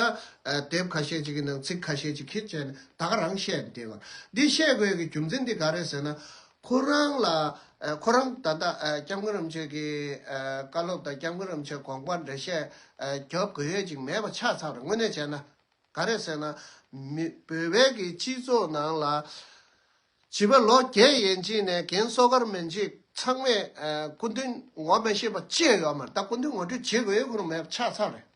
Speaker 1: དེབ་ཁ་ཤས་ཅིག་གི་ནང་ཚིག་ཁ་ཤས་ཅིག་ཁྱེར་བྱས་ནས་ད་ག་རང་བཤད་འདི་བར། འདི་བཤད་དགོས་ཀྱི་རྒྱུ་མཚན་འདི་ག་རེད་ཟེར་ན། ཁོ་རང་ལ། ཁོ་རང་ད་ལྟ ྋསྐྱབས་མགོན་རིན་པོ་ཆེ་གི་བཀའ་སློབ་དང ྋསྐྱབས་མགོན་རིན་པོ་ཆེ་དགོངས་པ་འགྲེལ་བཤད་རྒྱབ་དགོས་ཡོད་ཅིག་མེད་པ་ཆ་ཚང་རེད་དངོས་གནས་བྱས་ན། ག་རེད་ཟེར་ན། མི་བོད་པའི་གི་སྤྱི་ཚོགས་ནང་ལ། བྱིས་པ་ལོ་བརྒྱད་ཡན་ཅིན་ནས་གན་གསོ་སྒར་མན་ཇི་ཚང་མས་སྐུ་མདུན་ངོ་མི་ཤེས་པ་ཅི་ཡོད་མ་རེད་ད་སྐུ་མདུན་ངོ་སྤྲོད་བྱེད་དགོས་ཁུལ་མེད་པ་ཆགས་ཚར་རེད།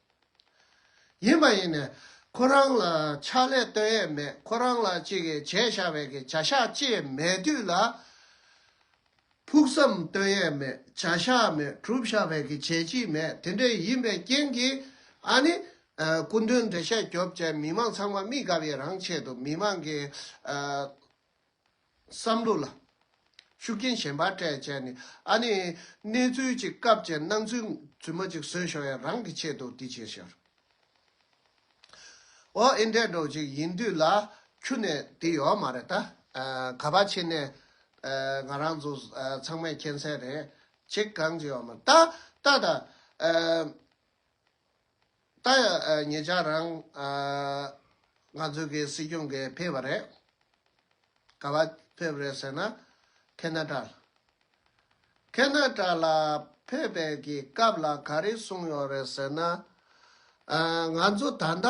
Speaker 1: ཡིན་མ་ཡིན་ནས་ཁོ་རང་ལ་ཕྱག་ལས་སྟོན་ཡས་མེད་ཁོ་རང་ལ་ཅིག་གིས་བྱས་བཞག་བས་ཀྱི་བྱ་བཞག་ཅི་ཡས་མེད་དུས་ལ། ཕུགས་བསམ་བསྟོད་ཡས་མེད་བྱ་བཞག་མེད་གྲུབ་བཞག་བས་ཀྱི་བྱས་ཀྱིས་མེད་དེ་འདྲའི་ཡིན་པའི་རྐྱེན་གྱིས་ཨ་ནི། སྐུ་མདུན་འདྲེ་ཤ་རྒྱོབ་བཅས་མི་མང་ཚང་མ་དམིགས་དགའ་བའི་རང་ཆེད་དུ་མི་མང་གི། བསམ་བློ་ལ། ཤུགས་རྐྱེན་གཞན་པ་སྤྲད་བཅས་ནི་ཨ་ནི། གནས་ཚུལ་གཅིག་སྐབས་ཅན་སྣང་ཚུལ་རྫུན་མ་གཅིག་བཟོས་ཤོག་ཡ་རང་གི་ཆེད་དུ་དེ་བྱས་ཤོག། ཨོ་ཨེ་འདྲས་འགྲོ་ཅིག་ཡིན་དུས་ལ་ཁྱུ་ནས་དེ་ཡོད་མ་རེད་ད། ག་པ་ཕྱི་ནས་ང་རང་ཚོ་ཚང་མས་མཁྱེན་གསལ་རེད། ཅིག་གང་ཅི་ཡོད་མ་རེད་ད། ད་ད། ད་ཡ་ངེད་ཅག་རང། ང་ཚོའི་གི་སྲིད་སྐྱོང་གི་ཕེབས་པ་རེད། ག་པ་ཕེབས་རེད་ཟེར་ན། ཁེ་ན་ཏྲལ། ཁེ་ན་ཏྲ་ལ་ཕེབས་པའི་གི་སྐབས་ལ་ག་རེ་གསུངས་ཡོད་རེད་ཟེར་ན། ང་ཚོ་ད་ལྟ་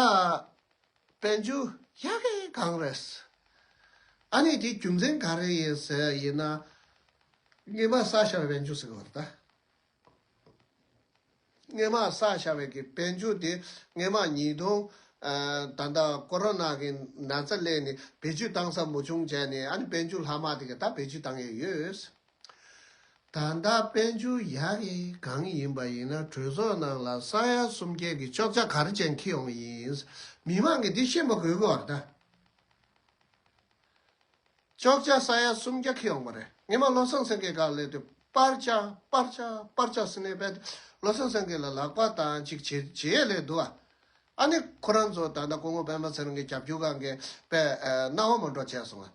Speaker 1: དཔལ་འབྱོར་ཡག་གི་གང་རེད། ཨ་ནི་དེའི་རྒྱུ་མཚན་ག་རེ་ཡིན་ཟེར་ཡིན་ན། རྔན་པ་ས་ཞོར་བས་འཇུ་ཟེར་གི་རེད། སྔས་མ་ས་ཤ་བའི་གི་བེད་འཇུག་དེ་སྔས་མ་ཉིས་སྟོང་ད་ལྟ་ཀོ་རོ་ནཱ་གི་ན་ཚ་གླས་ནས་བེད་སྤྱོད་བཏང་ས་མུ་ཆུང་བྱས་ནས་ཨ་ནི་བེད་འཇུག་ལྷག་མ་དེ་ག་ད་བེད་སྤྱོད་བཏང་ཡས་ཡོད། ད་ལྟ་བེད་འཇུག་ཡག་གི་གང་ཡིན་པ་ཡིན་ན་གྲོས་ཚོགས་ནང་ལ་ས་ཡ་སུམ་བརྒྱད་གི་ཅོག་ཅག་ག་རེ་ཅན་འཁེལ་ཡོང་གི་ཡིན། མི་མང་གི་དེ་ཤེས་མ་དགོས་གི་བར་ད། ཅོག་ཅག་ས་ཡ་སུམ་བརྒྱ་ཁེལ་འོངས་པ་རེད། ངེད་མ་བློ་བཟང་སེང་གེ་ག་ལས་དེ་པར་ཆག་པར་ཆག་པར་ཆག་ཟིན་ནས་བས་དེ་བློ་བཟང་སེང་གེ་ལ་ལག་པ་དང་ཅིག་བྱེད་བྱེད་ཡས་ལས་འདུག་ཨ། ཨ་ནི་ཁོ་རང་ཚོ་ད་ལྟ་སྐུ་ངོ་པདྨ་ཚེ་རིང་གི་རྒྱབ་སྐྱོར་ག་འགས་པས་གནའ་བོ་མོ་འགྲོ་བྱས་སོང་ཨ།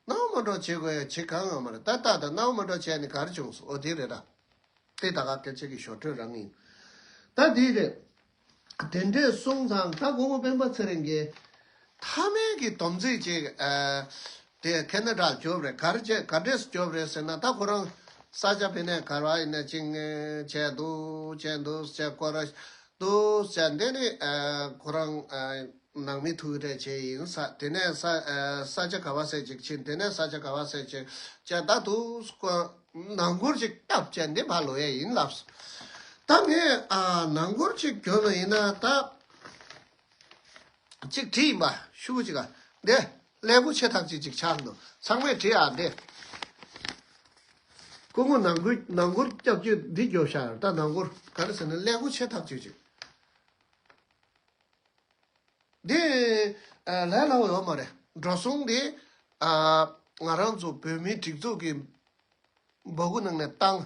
Speaker 1: གནའ་བོ་མོ་འགྲོ་བྱེད་དགོས་ཡས་བྱེད་གང་ཡང་མ་རེད་ད་ལྟ་ད་གནའ་བོ་མོ་འགྲོ་བྱས་ནི་གར་བྱུང་སོ་འོ་དེ་རེད་ཨ། དེ་ད་ག་སྐད་ཆ་གི་ཞོར་ཐོན་རང་ཡིན། ད་དེ་རེད། དེ་འདྲའི་གསུང་ཚང་ད་དགོངས་མོ་སྤེན་པ་ཚེ་རིང་གིས། ཐ་མལ་གྱི་སྡོམ་རྩིས་ཅིག་དེ་ཁེ་ན་དྲག་རྒྱོབ་རེད་གར་བྱེད་གར་འདྲེས་རྒྱོབ་རེད་ཟེར་ན་ད་ཁོ་རང་ས་ཆ་བེད་ནས་གར་བ་ཡིན་ན་ཅིག་ནས་བྱས་འདུག་བྱས་འདུག་བྱས་བསྐོར་ར་འདུག་བྱས་འདི་ནི་ཁོ་རང་ནང་མི་ཐུགས་རེ་ཆེ་ཡིན་ས་དེ་ནས་ས་ཆ་ག་བ་ཟེར་ཅིག་ཕྱིན་དེ་ནས་ས་ཆ་ག་བ་ཟེར་ཅིག་བྱས་ད་དུག་བསྐོར། ནང་སྒོར་ཅིག་སྐྱབས་བཅས་འདི་ཕ་ལོ་ཡ་ཡིན་ལབ། ད་ངས་ནང་སྒོར་ཅིག་གྱོན་ནོ་ཡིན་ན་ད། ཅིག་བྲིས་ཡིན་པ་ཤུ་གུ་ཅིག་ཨ་འདི། ཀླད་ཀོ་ཆེ་ཐག་ཅིག་ཅིག་ཆགས་འདུག་ཚང་མས་བྲིས་ཨ་འདི། སྐུ་ངོ་ནང་སྒོར་ནང་སྒོར་སྐྱབས་བཅོས་འདི་རྒྱོབ་ཤག་ད་ནང་སྒོར་ག་རེ་ཟེར་ནས་ཀླད་ཀོ་ཆེ་ཐག་ཅིག་ཅིག། འདི། ལས་སླ་བོ་ཡོད་མ་རེད། འགྲོ་སོང་གི། ང་རང་ཚོ་བོད་མིའི་སྒྲིག་འཛུགས་ཀྱི། འབོད་སྐུལ་གནང་ནས་བཏང།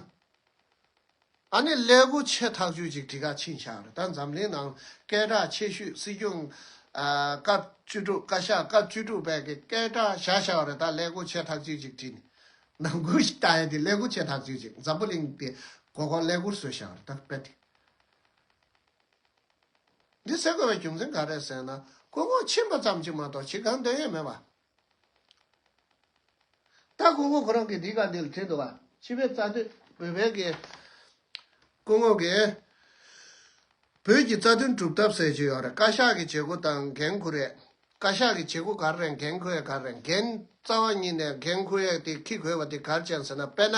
Speaker 1: ཨ་ནི་ཀླད་སྒོ་ཕྱེ་ཐག་ཆོད་ཅིག་གྲི་ཁ་ཕྱིན་ཤག་རེད་ད་འཛམ་གླིང་ནང་སྐད་གྲགས་ཆེ་ཤོས་སྲིད་སྐྱོང། སྐབས་བཅུ་དྲུག་བཀའ་ཤག་སྐབས་བཅུ་དྲུག་པའི་གི་སྐད་གྲགས་བཞག་ཤག་རེད་ད་ཀླད་སྒོ་ཕྱེ་ཐག་ཆོད་ཅིག་གྲི། ནང་ཁུལ་ཞིག་ལྟ་ཡས་དེ་ཀླད་སྒོ་ཕྱེ་ཐག་ཆོད་ཅིག་འཛམ་བུ་གླིང་དེ་གོ་གོ་ཀླད་སྒོར་བཟོས་ཤག་རེད་ད་དཔེ་དེ། འདི་ཟེར་དགོས་པའི་རྒྱུ་མཚན་ག་རེད་ཟེར་ན་ཀུན་གོང་ཕྱིན་པ་ཙམ་གྱིས་མ་གཏོགས་ཕྱི་གང་འདོད་ཡོད་མེད་པ། ད་ཀུན་གོང་ཁོ་རང་གིས་འདི་ག་འདི་ལ་བྲིས་འདུག་བ། སྤྱི་བའི་རྩ་དོན་བོད་པའི་གི། ཀུན་གོང་གིས། བོད་ཀྱི་རྩ་དོན་གྲུབ་ཐབས་ཟེར་གྱི་ཡོད་རེད་བཀའ་ཤག་གི་བྱེད་སྒོ་དང་འགན་ཁུར་ཡས། བཀའ་ཤག་གི་བྱེད་སྒོ་གར་རེད་འགན་ཁུར་ཡས་གར་རེད་འགན་རྩ་བ་ཉིད་ནས་འགན་ཁུར་ཡས་དེ་ཁི་གོས་པ་དེ་གར་བྱས་ཟེར་ན་དཔེར་ན།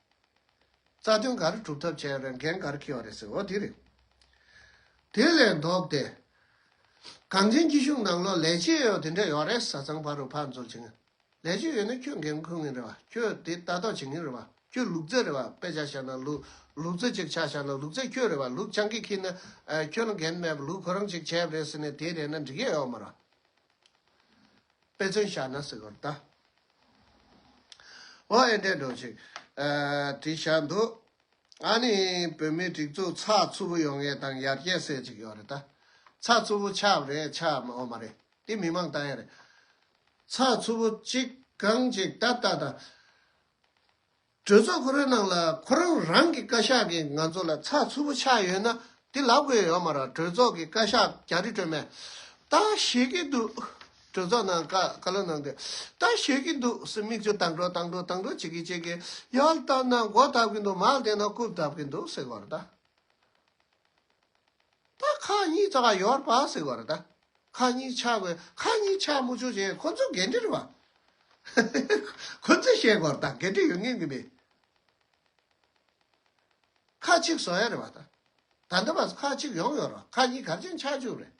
Speaker 1: རྩ་དོན་ག་རེ་གྲུབ་ཐབས་བྱས་རེད་འགན་ག་རེ་འཁྱེར་བ་རེད་ཟེར་བ་དེ་རེད། དེ་ལས་ལྡོག་སྟེ། གངས་ཅན་སྐྱིད་གཤོངས་ནང་ལོག་ལས་བྱེད་ཡོད་དེ་འདྲ་ཡོད་རེད་བཟའ་ཚང་ཕ་རོལ་ཕར་འཛོལ་བྱེད་ངེས། ལས་བྱེད་ཡོད་ན་ཁྱོད་འགན་འཁུར་ངེས་རེད་བ་ཁྱོད་དེ་ལྟ་རྟོག་བྱེད་ངེས་རེད་བ་ཁྱོད་ལུག་རྫི་རེད་བ་དཔེ་ཆ་ཤར་ན་ལུག་ལུག་རྫི་ཅིག་ཆགས་ཤར་ན་ལུག་རྫི་ཁྱོད་རེད་བ་ལུག་སྤྱང་ཀི་ཁྱི་ན་ཁྱོད་ལ་འགན་མེད་བ་ལུག་ཁོ་རང་ཅིག་བྱས་པ་རེད་ཟེར་ནས་དེ་རེད་ན་འགྲིག་ཡས་ཡོད་མ་རེད། དཔེ་མཚོན་བཞག་ན་ཟེར་བར་གདའ། ཨོ་ཨེ་འདྲས་འགྲོ་ཞིག་དྲིས་བཞག་འདུག་ཨཱ་ནི་བོད་མིའི་སྒྲིག་འཛུགས་ཚགས་ཚུད་པོ་ཡོང་ངེས་དང་ཡར་རྒྱས་སེ་ཅིག་ཡོང་རེད་ད། ཚགས་ཚུད་པོ་ཆགས་རེད་ཆགས་འོ་མ་རེད་དེ་མི་མང་ལྟ་ཡ་རེད། ཚགས་ཚུད་པོ་གཅིག་གང་ཅིག་ད་ལྟ་དང། གྲོས་ཚོགས་གོ་རེ་ནང་ལ་ཁོ་རང་རང་གི་བཀའ་ཤག་གིས་ང་ཚོ་ལ་ཚགས་ཚུད་པོ་ཆགས་ཡོད་ན་དེ་ལབ་དགོས་ཡོད་མ་ར་གྲོས་ཚོགས་གི་བཀའ་ཤག་རྒྱ་རི་སྒྲོལ་མས། ད་ཞེས་ཀྱི་འདུག་གྲོས་ཚོགས་ནང་བཀའ་བཀའ་སློབ་གནང་དུས་ད་ཞེས་ཀྱི་འདུག་སེ་མིག་ཆུ་དྭངས་དྲོ་དྭངས་དྲོ་དྭངས་དྲོ་བྱེད་ཀྱི་བྱེད་ཀྱི་ཡོད་ད་ནང་སྒོ་བཏབ་ཀྱི་འདུག་མ་བདེན་ན་རྐུབ་བཏབ་ཀྱི་འདུག་སེ་གོ་ར་ད། ད་ཁ་གཉིས་ད་ཡོར་བ་ཟེར་བ་རེད་ད་ཁ་གཉིས་ཆ་བས་ཁ་གཉིས་ཆ་མུ་ཆོ་བྱས་ཁོ་ཚོ་འགན་འཁྲི་རེད་བ། ཁོ་ཚོས་བཤད་དགོས་རེད་ད་འགན་འཁྲི་ཡོད་ངེས་ངེས་མེད། ཁ་གཅིག་བཟོ་ཡ་རེད་བ་ད་ད་འདི་བ་ཁ་གཅིག་ཡོང་ཡོར་བ་ཁ་གཉིས་གར་ཆེན་ཆགས་བཅུག་རེད་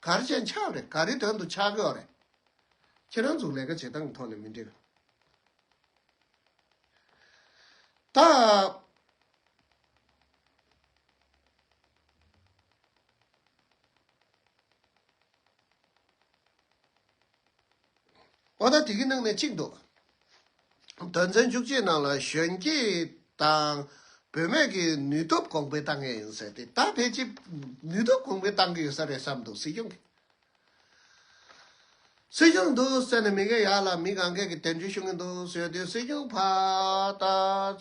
Speaker 1: གར་ཆེན་ཆགས་རེད་ག་རེ་དོན་དུ་ཆགས་དགོས་རེད། ཁྱེད་རང་ཚོ་ལས་ཀ་བྱེད་སྟངས་ཐོག་ནས་མི་འགྲིག། ད། ཨོ་ད་དེ་གི་ནང་ནས་གཅིག་འདུག། དོན་ཚན་བཅུ་གཅིག་ནང་ལ་གཞོན་སྐྱེས་དང་བུད་མེད་ཀྱི་ནུས་སྟོབས་གོང་འཕེལ་གཏང་ངེས་ཡིན་ཟེར་ཏེ་ད་ཕལ་ཆེར་ནུས་སྟོབས་གོང་འཕེལ་གཏང་གི་ཡོད་ས་རེད་བསམ་འདུག་སྲིད་སྐྱོང་གིས། སྲིད་གཞུང་འདུག་བསད་ནས་མི་གེ་ཡག་ལ་མི་གང་གེ་གི་དེབ་འཇུ་ཤུག་གི་འདུག་བཟོས་དུས་སྲིད་གཞུང་ཕ་ད་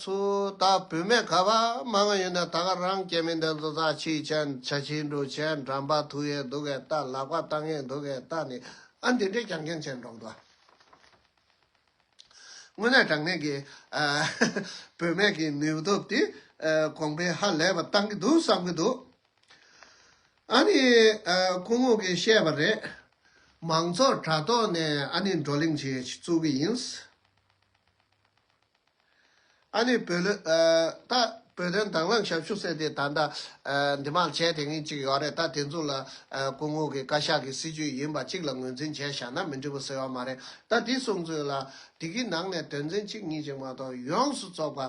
Speaker 1: ཚུ་ད་བུད་མེད་ག་བ་མ་ང་ཡོད་ནས་ད་ག་རང་སྐྱེ་མི་འདེ་ཛོ་ཛ་ཆིག་ཆན་བྱ་ཆིག་འདྲུ་ཆན་འགྲམ་པ་ཐུག་ཡེ་འདུག་གེ་ད་ལག་པ་ལྟ་ངེ་འདུག་གེ་ད་ནི་ཨ་འདི་འདྲེ་ཀྱང་ཀྱང་ཆན་འགྲོག་འདུག་དངོས་གནས་དྲང་གནས་གི་བུད་མེད་གི་ནུས་སྟོབས་དེ་གོང་འཕེལ་ཧ་ལས་པ་གཏང་གི་འདུག་བསམ་གི་འདུག། ཨ་ནི། སྐུ་ངོ་གིས་བཤད་པ་རེད། མང་ཚོགས་དྲ་ཐོག་ནས་ཨ་ནི་བགྲོ་གླེང་བྱེད་བཅུག་གི་ཡིན། ཨ་ནི་བོད་ལོས། ད་བོད་དོན་དྭང་བླངས་ཞབས་ཞུ་ཟེར་དེ་ད་ལྟ། འདི་མར་བྱས་དེ་ངེས་ཅིག་ཡོད་རེད་ད་དེ་ཚོ་ལ། སྐུ་ངོ་གིས་བཀའ་ཤག་གི་སྲིད་བྱུས་ཡིན་པ་གཅིག་ལ་ངོས་འཛིན་བྱས་བཞག་ན་མི་འགྲིག་པ་ཟེར་བ་མ་རེད་ད་དེ་གསུངས་ཚོད་ལ། དེ་གི་ནང་ནས་དོན་ཚན་གཅིག་གཉིས་ཅིག་མ་གཏོགས་ཡོངས་སུ་བཙོག་པ།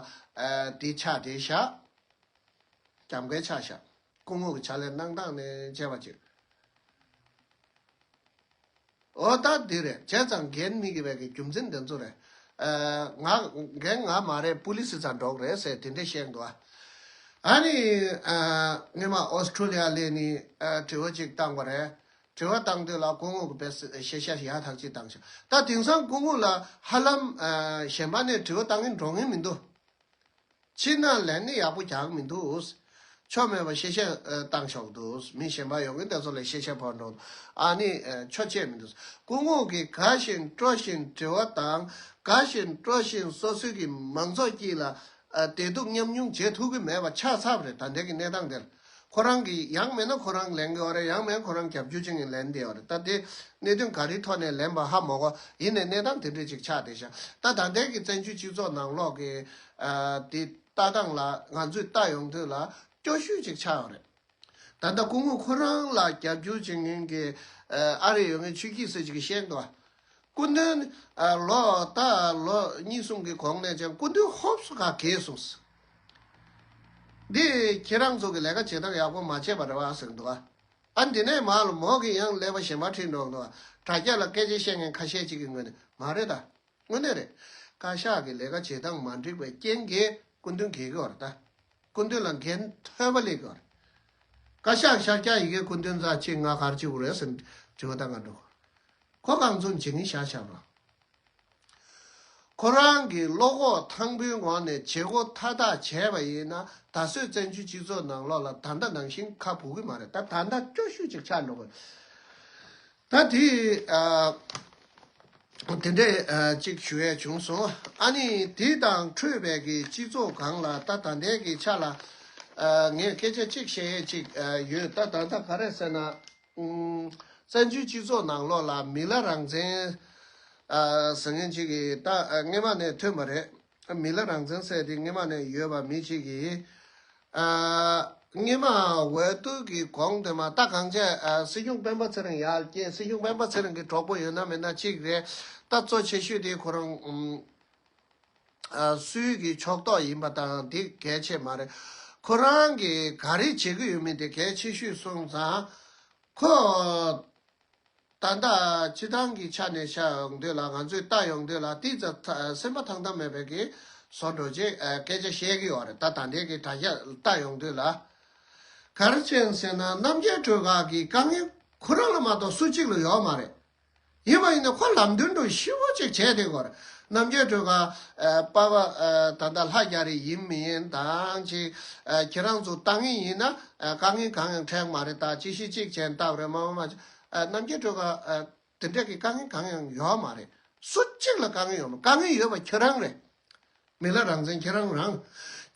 Speaker 1: དེ་ཆ་དེ་བཞག། རྒྱབ་འགལ་ཆ་བཞག། སྐུ་ངོ་གི་ཆ་ལས་སྣང་སྟངས་ནི་བྱས་པ་ཅིག། འོ་ད་འདི་རེད་བྱས་ཙང་འགན་སྨིག་གི་བས་ཀྱི་རྒྱུ་མཚན་འདི་ཚོ་རེད། ང་འགན་ང་མ་རེད་པུ་ལི་སི་ཚ་འདྲོག་རེད་ཟེར་དེ་འདྲས་བཤད་འདུག་ཨ། ཨ་ནི་སྔོན་མ་ཨོ་སི་ཁྲུ་ལི་ཡ་ལས་ནི་དྲི་བ་ཅིག་བཏང་བ་རེད། དྲི་བ་བཏང་དུས་ལ་སྐུ་ངོ་གི་བས་ཤེས་བྱ་ཡག་ཐག་ཅིག་བཏང་བྱུང། ད་དེང་སང་སྐུ་ངོ་ལ་ཧ་ལམ་གཞན་པ་ནས་དྲི་བ་བཏང་གིན་འགྲོ་ངེས་མི་འདུག། ཕྱིར་ན་ལན་ནི་ཡག་པོ་རྒྱག་མི་འདུག། ཆོ་མེད་པ་ཤེས་བྱ་བཏང་ཆོག་འདུག་མི་གཞན་པ་ཡོང་གིན་དེ་ཚོ་ལས་ཤེས་བྱ་བོར་འགྲོ་འདུག་ཨ་ནི་ཆོ་ཆེད་མི་འདུག་སྐུ་ངོགས་ཀྱི་ག་བཞིན་སྤྲོ་བཞིན་དྲི་བ་དང་ག་བཞིན་སྤྲོ་བཞིན་སོ་སོའི་གི་མང་ཚོགས་ཀྱི་ལ་དེ་སྡུག་མཉམ་མྱོང་བྱེད་ཐུབ་གི་མེད་པ་ཆ་ཚབ་རེད་ད་འདྲེ་གི་གནས་སྟངས་འདིར། ཁོ་རང་གིས་ཡང་མེད་ན་ཁོ་རང་ལེན་གི་འོ་རེད་ཡང་མེད་ཁོ་རང་རྒྱབ་སྐྱོར་བྱེད་ངེས་ལེན་དེ་འོ་རེད་ད་དེ་གནད་དོན་ག་རེའི་ཐོག་ནས་ལེན་པ་ཧ་མོག་གོ་ཡིན་ནས་གནས་སྟངས་དེ་འདྲས་ཅིག་ཆགས་བསྡད་བཞག་ད་ད་ལྟའི་གི་བཙན་བྱོལ་སྤྱི་ཚོགས་ནང་ལོག་གི་དེ་ལྟ་སྟངས་ལ་ང་ཚོས་ལྟ་ཡོང་དུས་ལ་སྐྱོ་ཤུལ་ཅིག་ཆགས་འོ་རེད་ད་ད་སྐུ་ངོ་ཁོ་རང་ལ་རྒྱབ་སྐྱོར་བྱེད་ངེས་གི་ཨ་རེད་ཡོད་ངེས་ཆོས་སྐྱིད་ཟེར་ཅིག་གི་ཤེས་འདུག་ཨ་སྐུ་མདུན་ལོ་ལྟ་ལོ་གཉིས་གསུམ་གི་གོང་ནས་ཀྱང་སྐུ་མདུན་ཧོབས་སུ་ག་གེ་སོང་ཟེར། འདི་ཁྱེད་རང་ཚོ་གི་ལས་ཀ་བྱེད་སྟངས་ཡག་པོ་མ་བྱས་པ་རེད་བ་ཟེར་གི་འདུག་ཨ། འདི་ནས་མར་ལ་མོག་གིས་ཡང་ཀླད་པ་ཞེན་པ་ཁྲིད་འགྲོ་གི་འདུག་དྲ་རྒྱ་ལ་སྐད་ཆ་བཤད་མཁན་ཁ་ཤས་གཅིག་གི་ངོས་ནས་མ་རེད་ད། དངོས་གནས་རེད། བཀའ་ཤག་གི་ལས་ཀ་བྱེད་སྟངས་མ་འགྲིག་པའི་རྐྱེན་གྱིས་སྐུ་མདུན་གས་གི་བར་ད། སྐུ་མདུན་ལ་འགན་ཐོལ་བ་ལས་གི་བར། བཀའ་ཤག་ཤར་སྐྱ་ཡི་གེ་སྐུ་མདུན་རྫ་ཆེ་ལྔ་གར་གཅིག་བུ་རེད་ཟེར་ནས་དྲི་བ་ད་ང་འདྲོག་གོ། ཁོ་གང་ཚོ་འཇིགས་ངེས་བྱ་བྱ་བ། ཁོ་རང་གིས་བློ་ཁོག་ཐང་པོའི་ངང་ནས་བྱེད་སྒོ་མཐའ་དག་བྱས་པ་ཡིན་ན་ད་གཟོད་བཙན་བྱོལ་སྤྱི་ཚོགས་ནང་ལོག་ལ་ད་ལྟ་ནང་བཞིན་ཁ་འབུ་གི་མ་རེད་ད་ད་ལྟ་སྐྱོ་ཤུལ་ཅིག་ཆགས་འགྲོ་གི་ད་དེ་དེ་འདྲས་ཅིག་ཞུ་ཡས་བྱུང་སོང་ཨ་ནི་དེ་དང་འཕྲོས་བས་ཀྱི་སྤྱི་ཚོགས་གང་ལ་ད་ད་ལྟའི་གི་ཆ་ལ་ངས་སྐད་ཆ་ཅིག་བཤད་ཡས་ཅིག་ཡོད་ད་ད་ལྟ་ག་རེད་ཟེར་ན། བཙན་བྱོལ་སྤྱི་ཚོགས་ནང་ལོགས་ལ་མི་ལ་རང་བཙན། ཟེར་མཁན་གཅིག་གིས་ད་སྔས་མ་ནས་ཐོན་པ་རེད། མི་ལ་རང་བཙན་ཟེར་དེ་སྔས་མ་ནས་ཡོད་པ་མི་གཅིག་གིས། སྔས་མ་འོས་བསྡུ་གི་གོང་དེ་མ་རྟ་གང་ཆད་སྲིད་སྐྱོང་སྤེན་པ་ཚེ་རིང་ཡར་སྐྱེས་སྲིད་སྐྱོང་སྤེན་པ་ཚེ་རིང་གི་གྲོགས་པོ་ཡོད་ན་མེད་ན་གཅིག་རེད། ད་གཙོ་ཆེ་ཤོས་དེ་ཁོ་རང། སུའི་གི་ཕྱོགས་གཏོགས་ཡིན་པ་དང་དེ་གལ་ཆེ་མ་རེད། ཁོ་རང་གིས་ག་རེ་བྱེད་ཀྱི་ཡོད་མེད་དེ་གལ་ཆེ་ཤོས་སོང་ཙང། ཁོས། ད་ལྟ་སྤྱི་བཏང་གི་ཆ་ནས་བྱ་ཡོང་དུས་ལ་ང་ཚོས་ལྟ་ཡོང་དུས་ལ་ཏིས་ཙ་ཐ་སེམས་པ་ཐང་ཐང་མེད་པའི་གི་བཟོ་འགྲོ་རྗེས་སྐད་ཆ་བཤད་ཀྱི་ཡོད་རེད་ད་ད་འདས་གི་དྲ་རྒྱ་ལྟ་ཡོང་དུས་ལ། ག་རེ་བྱེད་ཟེར་ན་རྣམ་རྒྱལ་གྲོས་ཁག་གི་དཀའ་ངལ་ཁོ་རང་ལ་མ་གཏོགས་སུ་གཅིག་ལ་ཡོད་མ་རེད། ཡིན་པ་ཡིན་ན་ཁོ་ལམ་སྟོན་དུ་ཤི་བོ་ཅིག་བྱས་དེ་གོར་རྣམ་རྒྱལ་སྤྲུལ་པ་པ་ད་ལྟ་ལྷ་རྒྱ་རི་ཡིན་མི་ཡིན་དང་ཅིག་ཁྱེད་རང་ཚོ་ལྟ་ངེས་ཡིན་ན་དཀའ་ངལ་གང་ཡང་འཕྲད་མ་རེད་ད་ཅི་ཞིག་ཅིག་བྱས་སྟབས་རེད་མ་མ་མ་རྣམ་རྒྱལ་སྤྲུལ་པ་དེ་འདྲ་གི་དཀའ་ངལ་གང་ཡང་ཡོད་མ་རེད་སུ་གཅིག་ལ་དཀའ་ངལ་ཡོད་མ་དཀའ་ངལ་ཡོད་པ་ཁྱེད་རང་རེད། མི་ལ་རང་བཙན་ཁྱེད་རང་རང།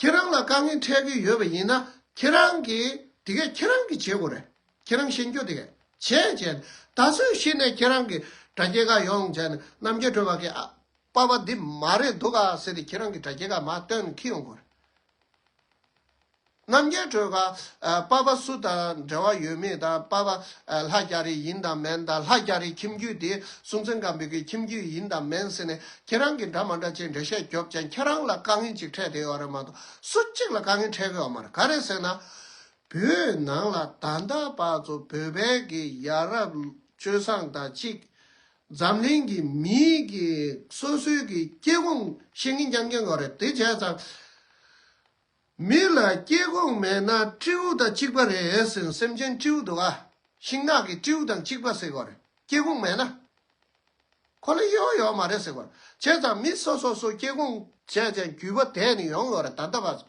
Speaker 1: ཁྱེད་རང་ལ་དཀའ་ངལ་འཕྲད་ཀྱི་ཡོད་པ་ཡིན་ན་ཁྱེད་རང་གིས་དེ་གས་ཁྱེད་རང་གིས་བྱེད་དགོས་རེད། ཁྱེད་རང་ཤེས་འགྱོ་དེ་གས་བྱེད་བྱེད། ད་གཟོད་གཞི་ནས་ཁྱེད་རང་གི་དྲ་རྒྱའི་ཁ་ཡོང་བྱས་ནས་རྣམ་རྒྱལ་གྲོལ་བ་གས་ཨ་པ་པ་འདི་མ་རེད་འདུག་ག་ཟེར་ཏེ་ཁྱེད་རང་གི་དྲ་རྒྱའི་ཁ་མ་སྟོན་ཁི་ཡོང་དགོས་རེད། རྣམ་རྒྱལ་སྤྲོས་པ་སྤར་པ་སུ་དང་འབྲེལ་བ་ཡོད་མེད་དང་སྤར་པ་ལྷ་རྒྱ་རི་ཡིན་དང་མིན་དང་ལྷ་རྒྱ་རི་ཁྱིམ་རྒྱུད་དེ་སྲུང་བཙན་སྒམ་པོའི་ཁྱིམ་རྒྱུད་ཡིན་དང་མིན་ཟེར་ནས་ཁྱེད་རང་གིས་འདྲ་མ་འདྲ་ཅེས་འགྲེལ་བཤད་རྒྱོབ་ཀྱང་ཁྱེད་རང་ལ་དཀའ་ངལ་ཅིག་འཕྲད་དེ་ཡོད་རེད་མ་གཏོགས་སུ་གཅིག་ལ་དཀའ་ངལ་འཕྲད་གི་ཡོད་མ་རེད་ག་རེད་ཟེར་ན། བོད་ནང་ལ་ད་ལྟ་བར་དུ་བོད་བལ་གྱི་ཡ་རབས་སྤྱོད་བཟང་དང་གཅིག་འཛམ་གླིང་གི་མིའི་གི་སོ་སོའི་གི་སྐྱེ་ཁུངས་ཤེས་མཁན་རྐྱང་རྐྱང་གོ་རེད་དེ་བྱས་ཙང། མི་ལ་སྐྱེ་ཁུངས་མེད་ན་སྤྲེའུ་དང་གཅིག་པ་རེད་ཟེར་སེམས་ཅན་སྤྲེའུ་འདུག་ཨ། ཤིང་ནགས་གི་སྤྲེའུ་དང་གཅིག་པ་ཟེར་གོ་རེད་སྐྱེ་ཁུངས་མེད་ན། ཁོ་ལ་གཡོ་ཡོད་མ་རེད་ཟེར་གོ་རེད་བྱས་ཙང་མི་སོ་སོ་སོ་སྐྱེ་ཁུངས་བྱས་ཙང་རྒྱུས་པ་དེ་ནི་ཡོང་གི་རེད་ད་ལྟ་བར།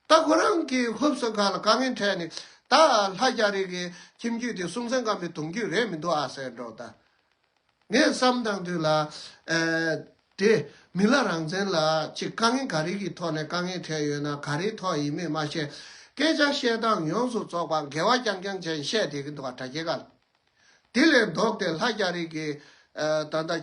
Speaker 1: ད་ཁོ་རང་གིས་ཧུབ་སོན་ཁ་ལ་དཀའ་ངལ་འཕྲད་ནས་ད་ལྷ་རྒྱ་རིགས་ཀྱི་ཁྱིམ་རྒྱུད་དེ་སྲུང་བསམ་སྐམ་པའི་དུང་རྒྱུད་རེད་མི་འདུག་ཨ་ཟེར་འགྲོ་ད། ངས་བསམ་དང་དུས་ལ། དེ་མི་ལ་རང་བཙན་ལ་ཅི་དཀའ་ངལ་ག་རེ་གི་ཐོག་ནས་དཀའ་ངལ་འཕྲད་ཡོད་ན་ག་རེའི་ཐོག་ཡིན་མེད་མ་ཤེས། སྐད་ཆ་བཤད་སྟངས་ཡོངས་སུ་རྩོག་པ་འགལ་བ་རྐྱང་རྐྱང་ཅན་བཤད་བསྡད་གི་འདུག་ག་དྲ་རྒྱའི་ག་ལ། དེ་ལས་ལྡོག་སྟེ་ལྷ་རྒྱ་རིགས་ཀྱི། ད་ལྟ།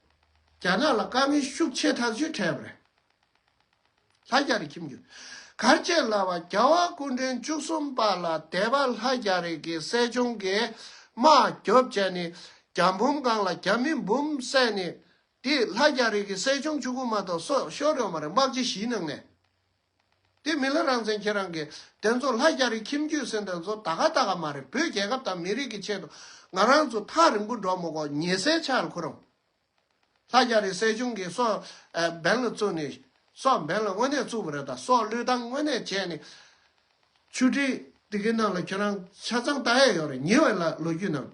Speaker 1: རྒྱ་ནག་ལ་དཀའ་ངལ་ཤུགས་ཆེ་ཐག་གཅོད་བྲལ་བར། ལྷ་རྒྱ་རི་ཁྱིམ་རྒྱུད་གར་བཅས་ལ་བ་རྒྱ་བ་སྐུ་འཕྲེང་བཅུ་གསུམ་པ་ལ་དད་པ་ལྷ་རྒྱ་རི་གི་སྲས་ཆུང་གིས་དམག་རྒྱོབ་བྱས་ནས་རྒྱ་འབུམ་བཀང་ལ་རྒྱ་མི་འབུམ་བསད་ནས་དེས་ལྷ་རྒྱ་རི་གི་སྲས་ཆུང་བཅུ་དགུ་མ་གཏོགས་སྲོག་ཤོར་ཡོང་བ་རེད་དམག་སྤྱི་བཞིའི་ནང་ནས། དེ་མིན་ལ་རང་བཙན་ཁྱེད་རང་གིས་དེ་ཚོ་ལྷ་རྒྱ་རི་ཁྱིམ་རྒྱུད་ཟེར་འདི་ཚོ་ད་ག་ད་ག་མ་རེད་བོད་རྒྱལ་ཁབ་དང་མི་རིགས་ཀྱི་ཆེད་དུ་ང་རང་ཚོ་ཐག་རིང་པོ་འགྲོ་མི་གོ་ཉེ་སའི་ཆར་ཁོ་རང་ལྷ་རྒྱ་རི་སྲས་ཆུང་གིས་སོག་སྦན་ལ་བཙུགས་ནས་སོག་སྦན་ལ་དངོས་གནས་བཙུགས་པ་རེད་ད་སོག་བློས་བཏང་དངོས་གནས་བྱས་ནས་ཆུ་ཁྲི་དེ་གི་ནང་ལ་ཁྱེད་རང་ཆ་ཚང་ལྟ་ཡས་ཡོད་རེད་ཉེ་བའི་ལ་ལོ་རྒྱུས་ནང་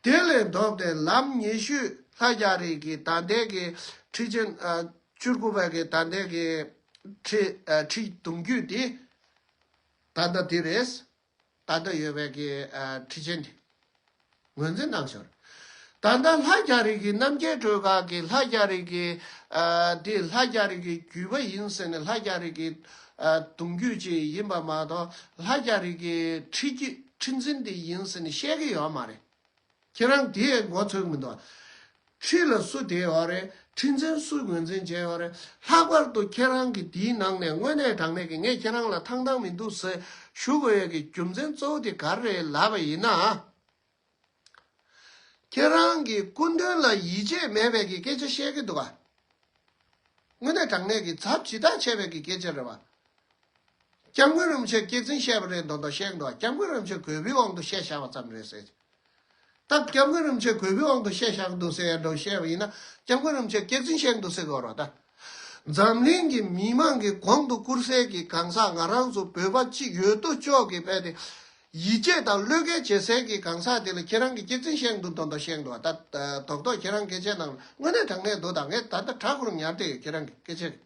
Speaker 1: དེ་ལས་ལྡོག་སྟེ་ལམ་ཉེ་ཤུས་ལྷ་རྒྱ་རི་གི་ད་ལྟའི་གི་ཁྲི་ཆེན་བཅུ་དགུ་པའི་གི་ད་ལྟའི་གི། ཁྲིད་གཏོང་རྒྱུ་དེ་ད་ལྟ་དེ་རེད། ད་ལྟ་ཡོད་པའི་ཁྲིད་ཆེན་དེ་ངོས་འཛིན་གནང་ཞོར། ད་ལྟ་ལྷ་རྒྱ་རིགས་ཀྱི་རྣམ་རྒྱལ་སྒྲོལ་དཀར་གྱིས་ལྷ་རྒྱ་རིགས་ཀྱི་དེ་ལྷ་རྒྱ་རིགས་ཀྱི་རྒྱུད་པ་ཡིན་ཟེར་ནས་ལྷ་རྒྱ་རིགས་ཀྱི་གདུང་རྒྱུད་ཅིག་ཡིན་པ་མ་གཏོགས་ལྷ་རྒྱ་རིགས་ཀྱི་ཁྲིད་འཛིན་དེ་ཡིན་ཟེར་ནས་བཤད་ཀྱི་ཡོད་མ་རེད། ཁྱེད་རང་དེ་ཡས་འགོ་ཚུགས་མི་འདུག། ཁྲི་ལ་སུ་དེ་ཡོད་རེད་ཁྲི་འཛིན་སུ་ངོས་འཛིན་བྱས་ཡོད་རེད་ལྷག་པར་དུ་ཁྱེད་རང་གི་དེའི་ནང་ནས་དངོས་གནས་དྲང་གནས་ཀྱི་ངས་ཁྱེད་རང་ལ་ཐང་ཐང་མི་འདུག་ཟེར་ཞུ་དགོས་ཡོད་ཀྱི་རྒྱུ་མཚན་གཙོ་བོ་དེ་ག་རེད་ལབ་པ་ཡིན་ན། ཁྱེད་རང་གི་སྐུ་འདུན་ལ་ཡིད་ཆེས་མེད་པའི་གི་སྐད་ཆ་བཤད་ཀྱི་འདུག་ག་དངོས་གནས་དྲང་གནས་ཀྱི་ཚབ་ཇི་ལྟར་བྱས་པའི་གི་སྐད་ཆ་རེད་བ། སྐྱབས་མགོན་རིན་པོ་ཆེ་སྐྱེད་ཚིན་བཤད་པ་རེད་མདོག་མདོག་བཤད་གི་འདུག་ག་སྐྱབས་མགོན་རིན་པོ་ཆེ་གོས་བུའི་དབང་དུ་བཤད་བཞག་པ་ཙམ་རེད་ཟེར། སྟབས་སྐྱབས་མགོན་རིན་ཆེན་གུས་པའི་དབང་དུ་བཤད་བཞག་འདུག་ཟེར་ཡ་འགྲོ་བཤད་པ་ཡིན་ན་སྐྱབས་མགོན་རིན་ཆེན་སྐད་འཛིན་བཤད་འདུག་ཟེར་དགོས་རོགས་གདའ། འཛམ་གླིང་གི་མི་དམངས་ཀྱི་གོང་དུ་བཀུར་སེལ་གྱི་གང་ཟག་ང་རང་ཚོ་བོད་པ་གཅིག་ཡོད་དོ་ཅོག་གིས་བས་ཏེ། ཡིད་ཆེས་དང་བློས་འགེལ་བྱེད་སེལ་གྱི་གང་ཟག་དེ་ལ་ཁྱེད་རང་གི་སྐད་འཛིན་བཤད་འདུག་མདོ་མདོ་བཤད་འདུག་ཨ་ད་དོག་དོག་ཁྱེད་རང་སྐད་ཆའི་ནང་ལ་དངོས་གནས་དྲང་གནས་འདུག་ད་ངས་ད་ལྟ་དྲག་གོར་ཉར་བསྡད་ཡོད་ཁྱེད་རང་གི་སྐད་ཆའི་རིགས།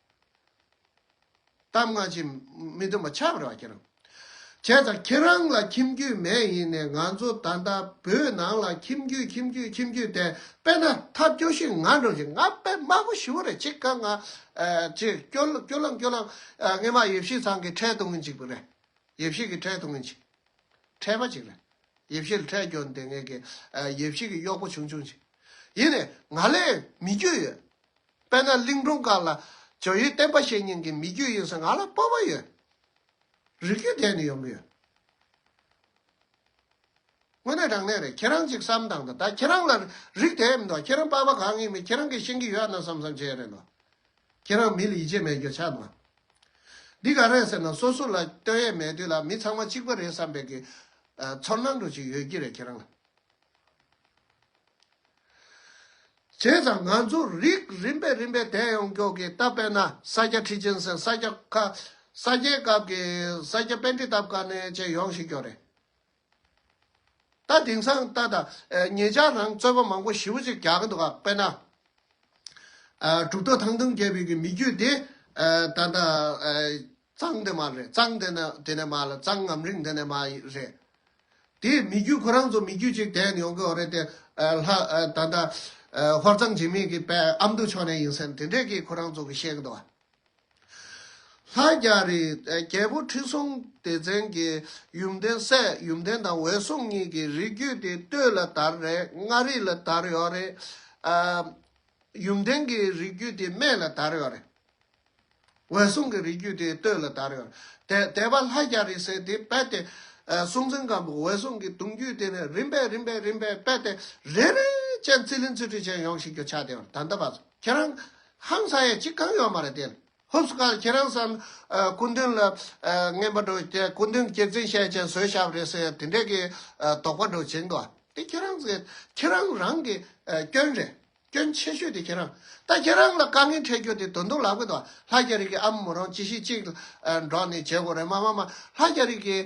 Speaker 1: གཏམ་སྔ་ཕྱི་མི་མཐུན་པ་ཆགས་པར་བ་ཁྱེད་རང་བྱས་ཙང་ཁྱེད་རང་ལ་ཁྱིམ་རྒྱུད་མེད་ཡིན་ནས་ང་ཚོ་ད་ལྟ་བོད་ནང་ལ་ཁྱིམ་རྒྱུད་ཁྱིམ་རྒྱུད་ཁྱིམ་རྒྱུད་དེ་དཔེ་ན་ཐབས་སྐྱོ་ཞིག་ང་འགྲོ་བཞིན་ང་དཔེ་དམའ་པོ་ཞི་བོ་རེད་ཅིག་དཀའ་ང་ཅིག་སྐྱོ་སྐྱོ་ལམ་སྐྱོ་ལམ་ངེད་མ་ཡེ་ཕྱི་ཚང་གི་འཕྲལ་གཏོང་གིན་ཅིག་པུ་རེད་ཡེ་ཕྱི་གི་འཕྲལ་གཏོང་གིན་ཅིག་འཕྲལ་པ་ཅིག་རེད་ཡེ་ཕྱི་ལ་འཕྲལ་སྐྱོ་ནི་དེ་ངེད་ཀྱི་ཡེ་ཕྱི་གི་གཡོག་པོ་ཆུང་ཆུང་ཅིག་ཡིན་ནས་ང་ལས་མི་རྒྱུད་ཡོད་དཔལ་ནཱ་ལེནྡྲ་འབྲུག་སྒར་ལ་ཇོ་ཡོས་བསྟན་པ་བཤད་ཉན་གི་མི་རྒྱུད་ཡིན་ས་ང་ལ་སྤོབས་པ་ཡོད། རིགས་རྒྱུད་དེ་ནི་ཡོང་གི་ཡོད། དངོས་གནས་དྲང་གནས་རེད་ཁྱེད་རང་ཅིག་བསམ་དང་ད་ད་ཁྱེད་རང་ལ་རིགས་དེ་མི་འདུག་ཁྱེད་རང་སྤོབས་པ་གང་ཡིན་མིན་ཁྱེད་རང་གིས་ཤེས་ཀྱི་ཡོད་ན་བསམ་བསམ་བྱས་རེད་འདུག་ཁྱེད་རང་མི་ལ་ཡིད་ཆེས་མེད་རྒྱུ་ཆ་འདུག་འདི་ག་རེད་ཟེར་ན་སོ་སོ་ལ་ལྟོས་ཡས་མེད་དུས་ལ་མི་ཚང་མ་གཅིག་པ་རེད་བསམ་པའི་གི་ཚོར་སྣང་འགྲོ་ཅིག་ཡོད་ཀྱི་རེད་ཁྱེད་རང་ལ། བྱས་ཙང་ང་ཚོ་རིགས་རིམ་པས་རིམ་པས་དལ་ཡོང་མགྱོགས་ཀྱི་སྟབས་དཔལ་ན་ས་སྐྱ་ཁྲི་ཆེན་ཟེར་ས་སྐྱ་ཁ་ས་སྐྱའི་སྐབས་ཀྱི་ས་སྐྱ་དཔལ་ཁྲི་སྟབས་ཀ་ནས་བཅས་ཡོང་བཞིན་མགྱོགས་རེད། ད་དེང་སང་ལྟ་ད་ངེད་ཅག་རང་རྩོད་པ་མང་པོ་ཞི་བོ་ཅིག་རྒྱག་གི་འདུག་དཔལ་ན་གྲུབ་ཐོག་ཐང་ཐུང་རྒྱལ་བོད་ཀྱི་མི་རྒྱུད་དེ་ད་ལྟ་གཙང་དེ་མ་རེད་གཙང་དེ་ནི་དེ་ནས་མ་ལ་གཙང་ངམ་རིང་དེ་ནས་མ་རེད། དེ་མི་རྒྱུད་ཁོ་རང་ཚོ་མི་རྒྱུད་ཅིག་དེད་ཡོང་གི་འོ་རེད་དེ། ལྷ། ད་ལྟ། ཧོར་གཙང་འཇིགས་མེད་ཀྱི་པའི་ཨ་མདོ་ཕྱོགས་ནས་ཡིན་ཟེར་ནས་དེ་འདྲས་ཀྱིས་ཁོ་རང་ཚོ་གི་བཤད་གི་འདུག་བ། ལྷ་རྒྱ་རི། རྒྱལ་པོ་ཁྲི་སྲོང་ལྡེ་བཙན་གྱི་ཡུམ་བརྟན་སྲས་ཡུམ་བརྟན་དང་འོད་སྲུང་གཉིས་ཀྱི་རིགས་རྒྱུད་དེ་སྟོད་ལ་དར་རེད་མངའ་རིས་ལ་དར་ཡོད་རེད། ཡུམ་བརྟན་གྱི་རིགས་རྒྱུད་དེ་སྨད་ལ་དར་ཡོད་རེད། འོད་སྲུང་གི་རིགས་རྒྱུད་དེ་སྟོད་ལ་དར། དད་པ་ལྷ་རྒྱ་རི་སེ་དེ་དཔལ་ཏེ། སྲོང་བཙན་སྒམ་པོ་འོད་སྲུང་གི་དུང་རྒྱུད་དེ་ནས་རིམ་པས་རིམ་པས་རིམ་པས་དཔལ་ཏེ་རེ་རེ་ཅན་ཚིལ་ལིན་ཚུལ་ཁྲིམས་ཅན་ཡོངས་ཤིག་གྱུར་ཕྱག་བདེ་བར་ད་འདི་བར་ཁྱེད་རང། ཧང་ས་ཡས་ཅི་གང་ཡོད་མ་རེད་དེ། ཧུབ་སུ་ཁར་ཁྱེད་རང་བསམ། སྐུ་མདུན་ལ། རྔན་པ་འགྲོ་དེ་སྐུ་མདུན་གྱེར་འཛིན་ཤས་ཆེན་བཟོས་ཤ་བ་རེད་ཟེར་དེ་འདྲས་ཀྱི་དོགས་པ་འགྲོ་བྱིང་དོ། དེ་ཁྱེད་རང་ཟེར་ཁྱེད་རང་རང་གི་སྐྱོན་རེད། སྐྱོན་ཆེ་ཤོས་དེ་ཁྱེད་རང་ད་ཁྱེད་རང་ལ་དཀའ་ངལ་འཕྲད་རྒྱུ་དེ་དོན་དུ་ལག་པས་ལྷ་རྒྱ་རིགས་ཀྱི་ཨ་མ་མོ་རང་ཅི་ཞིག་ཅིག་འགྲོགས་ནས་བྱེད་དགོས་རེད་མ་མ་མ་ལྷ་རྒྱ་རིགས་ཀྱི་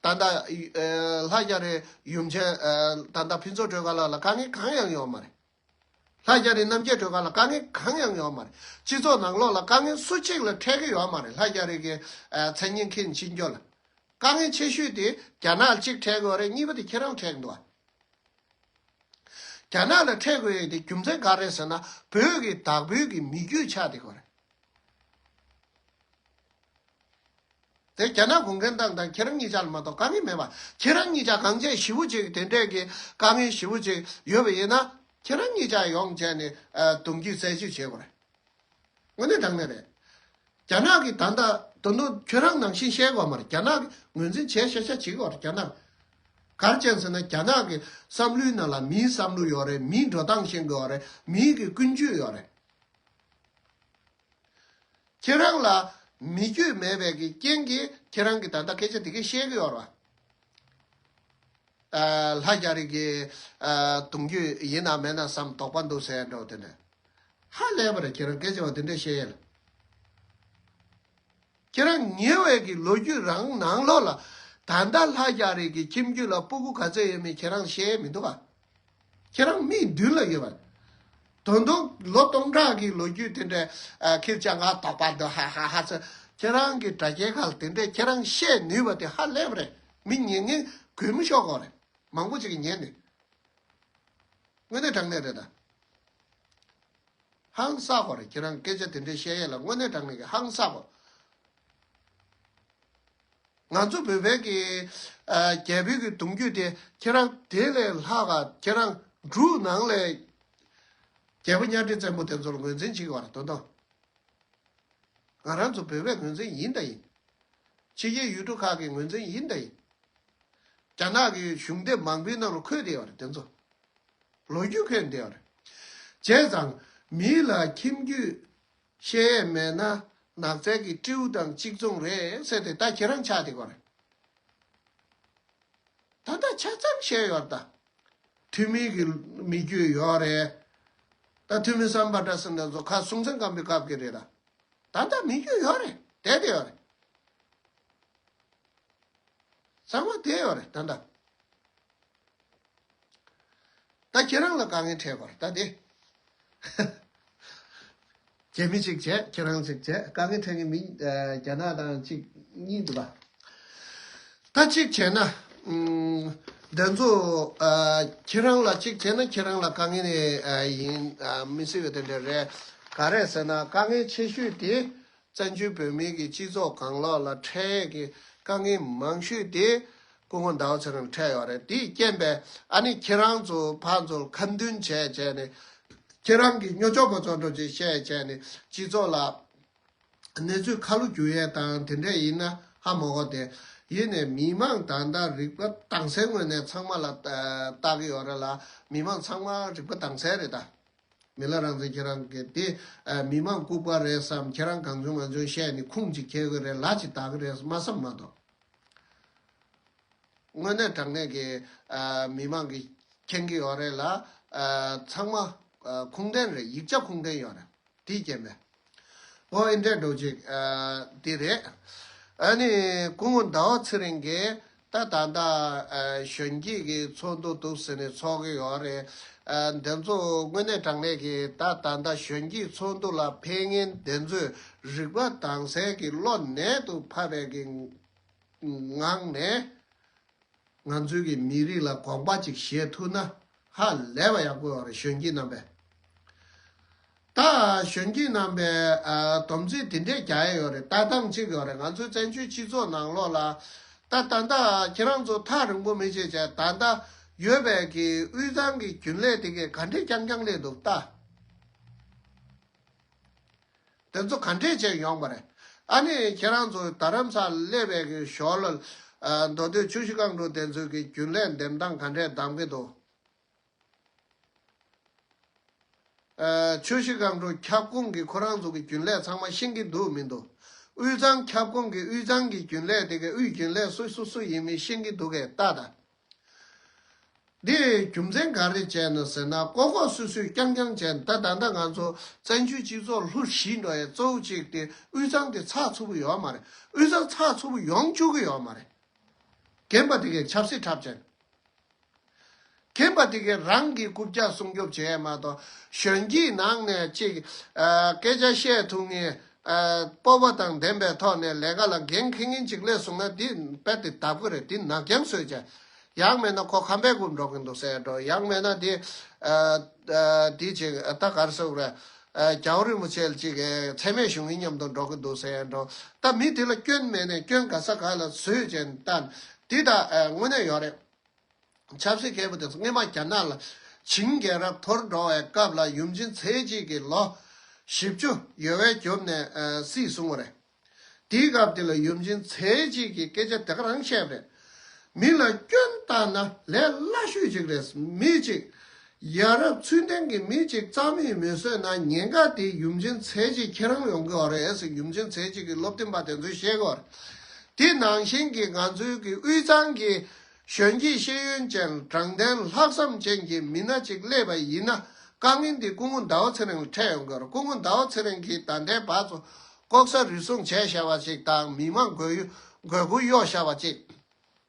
Speaker 1: ད་ལྟ་ལྷ་རྒྱ་རི་ཡུམ་ཆེན་ད་ལྟ་ཕུན་ཚོགས་སྒྲོལ་དཀར་ལགས་ལ་དཀའ་ངལ་གང་ཡང་ཡོད་མ་རེད་ལྷ་རྒྱ་རི་རྣམ་རྒྱལ་སྒྲོལ་དཀར་ལ་དཀའ་ངལ་གང་ཡང་ཡོད་མ་རེད་སྤྱི་ཚོགས་ནང་ལོག་ལ་དཀའ་ངལ་སུ་གཅིག་ལ་འཕྲད་ཀྱི་ཡོད་མ་རེད་ལྷ་རྒྱ་རིགས་ཀྱི་མཚན་སྙན་ཁྱེད་མཆིས་རྒྱུ་ལ་དཀའ་ངལ་ཆེ་ཤོས་དེ་རྒྱ་ནག་ཅིག་འཕྲད་དགོས་རེད་གཉིས་པ་དེ་ཁྱེད་རང་འཕྲད་འདུག་རྒྱ་ནག་ལ་འཕྲད་དགོས་ཡོད་དེ་རྒྱུ་མཚན་ག་རེད་ཟེར་ན་བོད་ཀྱི་དྭགས་བོད་ཀྱི་མི་རྒྱུད་ཆགས་དེ་གོ་རེད། དེ་རྒྱ་ནག་གུང་ཁྲན་ཏང་དང་ཁྱེད་རང་གཉིས་ཅག་ལ་མ་གཏོགས་དཀའ་ངལ་མེད་པ་ཁྱེད་རང་གཉིས་ཅག་གངས་ཅན་ཞི་བོ་གཅིག་དེ་འདྲས་ཀྱི་དཀའ་ངལ་ཞི་བོ་གཅིག་ཡོད་པ་ཡིན་ན་ཁྱེད་རང་གཉིས་ཅག་ཡོངས་བཅས་ནས་གདུང་རྒྱུད་རྩེ་གཅིག་བྱེད་དགོས་རེད། དངོས་གནས་དྲང་གནས་རེད། རྒྱ་ནག་གི་ད་ལྟ་ད་དུང་ཁྱོད་རང་ནང་བཞིན་བཤད་དགོས་མ་རེད་རྒྱ་ནག་གི་ངོས་འཛིན་བྱས་བཤད་བྱས་བྱེད་དགོས་རེད་རྒྱ་ནག་གར་ཅན་ཟེར་ན་རྒྱ་ནག་གི་བསམ་བློའི་ནང་ལ་མིའི་བསམ་བློ་ཡོད་རེད་མིའི་འགྲོ་སྟངས་ཤེས་དགོས་རེད་མིའི་གི་ཀུན་སྤྱོད་ཡོད་རེད། ཁྱེད་རང་ལ་མི་སྐྱོད་མེད་པའི་གི་རྐྱེན་གི་ཁྱེད་རང་གི་ད་ལྟ་སྐད་ཆ་དེ་གི་བཤད་གི་ཡོད་རེད། ལྷ་རྒྱ་རིགས་གི་གདུང་རྒྱུད་ཡིན་ནམ་མེད་ནམ་བསམ་དོགས་པ་འདུག་ཟེར་ཡས་འགྲོ་དེ་འདྲ། ཧ་ལས་པ་རེད་ཁྱེད་རང་སྐད་ཆ་བ་དེ་འདྲ་བཤད་ཡས་ལ། ཁྱེད་རང་ཉེ་བའི་གི་ལོ་རྒྱུས་རང་ནང་ལོག་ལ་ད་ལྟ་ལྷ་རྒྱ་རི་གི་ཁྱིམ་རྒྱུད་ལ་སྤུ་གུ་ག་ཚོད་ཡོད་མེད་ཁྱེད་རང་ཤེས་མི་འདུག་ག། ཁྱེད་རང་མིག་མདུན་ལ་ཡོད་པ། དོན་དུ་ལོ་སྟོང་ཕྲག་གི་ལོ་རྒྱུས་དེ་འདྲའི་ཁྱེད་ཅག་ང་དོག་པ་འདུག་ཧཧཧ་ཚོད་ཁྱེད་རང་གི་དྲ་རྒྱའི་ཁག་དེ་འདྲས་ཁྱེད་རང་ཤེས་ནུས་པ་དེ་ཧ་ལས་པ་རེད་མི་ཉན་ངན་གུས་མི་ཤོག་གོ་རེད་མང་པོ་ཅིག་གིས་ཉན་ནི་དངོས་གནས་དྲང་གནས་རེད་ད། ཧང་སངས་པར་ཁྱེད་རང་སྐད་ཆ་དེ་འདྲའི་བཤད་ཡས་ལ་དངོས་གནས་དྲང་མེད་ཀྱི་ཧང་སངས་པ། ང་ཚོ་བོད་བལ་གྱི་རྒྱལ་པོའི་གྱི་གདུང་རྒྱུད་དེ་ཁྱེད་རང་དེ་ལས་ལྷག་ག་ཁྱེད་རང་འབྲུག་ནང་ལས་རྒྱལ་པོ་གཉའ་ཁྲི་བཙན་པོ་དེ་ཚོར་ངོས་འཛིན་བྱེད་བར་དོ་དང། ང་རང་ཚོ་བོད་བལ་ངོས་འཛིན་ཡིན་དང་ཡིན། ཕྱི་རྒྱལ་ཡུལ་གྲུ་ཁག་གི་ངོས་འཛིན་ཡིན་དང་ཡིན། རྒྱ་ནག་གི་གཞུང་དེབ་མང་པོའི་ནང་ལ་འཁོད་བསྡད་བར་དེ་ཚོ་ལོ་རྒྱུས་ཁོད་འདི་ཨར། བྱས་ཙང། མི་ལ་ཁྱིམ་རྒྱུད། བཤད་ཡས་མེད་ན། ནགས་ཚལ་གྱི་སྤྲེའུ་དང་གཅིག་མཚུངས་རེད་ཟེར་ཏེ་ད་ཁྱེད་རང་ཆགས་དེ་གོ་རེད། ད་ལྟ་ཆ་ཙམ་བཤད་ཡོད་རེད་ད། ཐུ་མི་གི་མི་རྒྱུད་ཡོད་རེད། ད་ཐུ་མི་སམ་པ་འདྲ་སེམས་ན་ཟོ་ཁ་སྲུང་མཚན་སྐམ་པའི་སྐབས་ཀྱི་རེད་ད། ད་ལྟ་མི་རྒྱུད་ཡོད་རེད་དེ་དེ་ཡོད་རེད། ཚང་མ་དེ་ཡོད་རེད་ད་ལྟ། ད་ཁྱེད་རང་ལ་དཀའ་ངལ་འཕྲད་པར་ལྟ་སྟེ། རྒྱ་མི་གཅིག་བྱས་ཁྱེད་རང་གཅིག་བྱས་དཀའ་ངལ་འཕྲད་ངེས་མིན་རྒྱ་ནག་དང་གཅིག་གཉིས་འདུག་ག་ད་གཅིག་བྱས་ན། འདི་ཚོ་ཁྱེད་རང་ལ་གཅིག་བྱས་ན་ཁྱེད་རང་ལ་དཀའ་ངལ་ཡིན་མི་སྲིད་པ་དེ་འདྲ་རེད། ག་རེད་ཟེར་ན་དཀའ་ངལ་ཆེ་ཤོས་དེ་བཙན་བྱོལ་བོད་མིའི་གི་སྤྱི་ཚོགས་གང་ལགས་ལ་འཕྲལ་ཡས་ཀྱི་དཀའ་ངལ་མང་ཤོས་དེ་སྐུ་ངོ་འདའོ་ཚེ་རིང་ལ་འཕྲད་ཡོད་རེད་དེས་རྐྱེན་པས་ཨ་ནི་ཁྱེད་རང་ཚོ་ཕ་ཚོར་ཁ་མདུན་བྱས་བྱས་ནས་ཁྱེད་རང་གི་སྨྱོ་ཅོག་པོ་ཚོ་འགྲོ་བྱེད་བཤད་བྱས་ནས་སྤྱི་ཚོགས་ལ་གནས་ཚུལ་ཁ་ལོ་བསྒྱུར་ཡས་དང་དེ་འདྲས་ཡིན་ན་ཧ་མོ་གོ་དེ་ཡིན་ནས་མི་མང་ད་ལྟ་རིག་པ་དྭངས་གསལ་ངོས་ནས་ཚང་མ་ལ་བལྟ་གི་ཡོད་རེད་ལ་མི་མང་ཚང་མ་རིག་པ་དྭངས་གསལ་རེད་ད། མི་ལ་རང་བཙན་ཁྱེད་རང་གིས་དེ་མི་དམངས་ལྐུག་པ་རེད་བསམ་ཁྱེད་རང་གང་བྱུང་ང་བྱུང་བཤད་ནི་ཁུངས་གཅིག་འཁྱེར་གི་རེད་ལག་གཅིག་བཏགས་གི་རེད་སྨྲ་བསམ་མ་གཏོགས། དངོས་གནས་དྲང་གནས་ཀྱི་མི་དམངས་ཀྱི་མཁྱེན་གི་ཡོད་རེད་ལ། ཚང་མ་ཁུངས་ལྡན་རེད་ཡིག་ཆ་ཁུངས་ལྡན་ཡོད་རེད་དེའི་རྐྱེན་པས། ཨོ་ཨེ་འདྲས་འགྲོ་ཅིག། དེ་རེད། ཨཱ་ནི། སྐུ་ངོ་ཟླ་བ་ཚེ་རིང་གིས། ད་ད་ལྟ། གཞོན་སྐྱེས་ཀྱི་ཚོགས་འདུ་འདུག་ཟེར་ནས་ཚོགས་ཀྱི་ཡོད་རེད། འདི་ཚོ་དངོས་གནས་དྲང་གནས་ཀྱི་ད་ད་ལྟ་གཞོན་སྐྱེས་ཚོགས་འདུ་ལ་ཕན་ངེས་འདི་ཚོས་རིག་པ་དྭངས་གསལ་གྱི་བློ་ནད་དུ་ཕབ་པའི་ངང་ནས། ང་ཚོའི་གི་མི་རིགས་ལ་དགོངས་པ་ཅིག་བཞེས་ཐུབ་ན་ཧ་ལས་པ་ཡག་པོ་རེད་གཞོན་སྐྱེས་རྣམ་པས། ད་གཞོན་སྐྱེས་རྣམ་པས་དོམ་ཚིག་དེ་འདྲས་རྒྱག་ཡས་ཡོད་རེད་ལྟ་སྟངས་གཅིག་ཡོད་རེད་ང་ཚོའི་བཙན་བྱོལ་སྤྱི་ཚོགས་ནང་ལོགས་ལ་ད་ད་ད་ཁྱེད་རང་ཚོ་ཐག་རིང་པོ་མི་བྱེད་ཅེ་ད་ད་ཡོད་པའི་གི་དབུས་གཙང་གི་རྒྱུན་ལས་དེ་གས་ག་འདྲས་རྐྱང་རྐྱང་ལས་འདུག་ལྟ། དེ་ཚོ་ག་འདྲས་བྱས་ཡོང་པ་རེད། ཨ་ནི་ཁྱེད་རང་ཚོ་དར་རམ་སར་སླེབས་པའི་གི་ཞོར་ལ། མདོ་སྟོད་ཆུ་བཞི་རྐང་དྲུག་དེ་ཚོའི་གི་རྒྱུན་ལས་འདེམས་སྟངས་ག་འདྲས་གདམ་གི་འདུག། ཆུ་བཞི་རྐང་དྲུག་ཁྱབ་ཁོངས་གི་ཁོ་རང་ཚོ་གི་རྒྱུན་ལས་ཚང་མ་ཤེས་གི་འདུག་མི་འདུག། དབུས་གཙང་ཁྱབ་ཁོངས་གི་དབུས་གཙང་གི་རྒྱུན་ལས་དེ་གི་དབུས་རྒྱུན་ལས་སུ་སུ་སུ་ཡིན་མིན་ཤེས་གི་འདུག་གས་རྟ་ད། འདིར་རྒྱུ་མཚན་ག་རེ་བྱས་ནས་ཟེར་ན་ལྐོག་ལྐོག་སུད་སུད་རྐྱང་རྐྱང་བྱས་ནས་ད་ད་ལྟ་ང་ཚོ་བཙན་བྱོལ་སྤྱི་ཚོགས་ལྷུ་བཞི་འགྲོ་བའི་གཙོ་བོ་གཅིག་སྟེ་དབུས་གཙང་དེ་ཚགས་ཚུད་པོ་ཡོད་མ་རེད་དབུས་གཙང་ཚགས་ཚུད་པོ་ཡོང་བཅུག་གི་ཡོད་མ་རེད། རྒན་པ་དེ་གས་ཆབ་སྲིད་འཁྲབ་བྱས། རྒན་པ་དེ་གས་རང་གི་རྐུབ་བཀྱག་སྲུང་སྐྱོབ་བྱས་མ་གཏོགས་གཞོན་སྐྱེས་ནང་ནས་ཅིག་སྐད་ཆ་བཤད་ཐུབ་ངེས་སྤོབས་པ་དང་ལྡན་པའི་ཐོག་ནས་ལས་ཀ་ལ་འགན་ཁེ་ངེ་འཇིག་ལས་བཟུང་ན་འདི་དཔེ་དེ་ལྟ་བུ་རེད་འདི་ནག་རྒྱང་སོས་ཀྱ། ཡག་མེད་ན་ཁོ་ཁམས་པའི་སྒོར་འགྲོ་གིན་འདུག་སེ་འགྲོ་ཡག་མེད་ན་དེ། དེ་ཅིག་ད་གར་སོག་ར། གྱའུ་རིན་པོ་ཆེལ་ཅིག་ཚད་མེད་བྱུང་གིན་མཉམ་དུ་འགྲོ་གིན་འདུག་སེ་འགྲོ། ད་མི་དེ་ལ་སྐྱོན་མེད་ནས་སྐྱོན་ག་ས་ག་ལ་བཟོས་ཅན་ལྟ། དེ་དག་དངོས་གནས་ཡོག་རེད། ཆབ་སྲིད་མཁས་པོ་དེ་སྔོན་མ་རྒྱ་ནག་ལ་བྱིངས་རྒྱལ་རབས་འཐོར་འགྲོ་བའི་སྐབས་ལ་ཡུམ་ཆིན་ཚེ་གཅིག་གི་ལོ་བཞི་བཅུ་ཡོལ་བས་གྱུར་ནས་སྲིད་བཟུང་བ་རེད། དེའི་སྐབས་དེ་ལ་ཡུམ་ཆིན་ཚེ་གཅིག་གིས་སྐད་ཆ་དེ་ག་རང་བཤད་པ་རེད། མི་ལ་སྐྱོན་བཏང་ན་ལས་སླ་ཤོས་ཅིག་རེད་མི་གཅིག་ཡ་རབས་ཚུལ་ལྡན་གྱི་མི་གཅིག་རྩ་མེད་མི་བཟོས་ན་ཉེན་ཁ་དེ་ཡུམ་ཆེན་ཚེ་གཅིག་ཁྱེད་རང་ཡོང་གི་བ་རེད་ཡུམ་ཆེན་ཚེ་གཅིག་གི་བློ་བསྟན་པ་དེ་ཚོ་ཤེས་དགོས་བ་རེད་དེ་ནང་བཞིན་གྱི་ང་ཚོའི་གི་དབུས་གཙང་གི་གཞོན་སྐྱེས་ཤེས་ཡོན་ཅན་དྲང་བདེན་ལྷག་བསམ་ཅན་གྱི་མི་སྣ་གཅིག་སླེབས་པ་ཡིན་ན་དཀའ་ངལ་འདི་སྐུ་ངོ་ཟླ་བ་ཚེ་རིང་ལ་འཕྲད་ཡོང་གི་བ་རེད་སྐུ་ངོ་ཟླ་བ་ཚེ་རིང་གིས་ད་ལྟའི་བར་དུ་ལྐོག་ཟ་རུལ་སུངས་བྱས་ཤ་བ་ཅིག་དང་མི་མང་དགོས་ཡུལ་དགོས་མཁོ་གཡོག་ཤ་བ་ཅིག།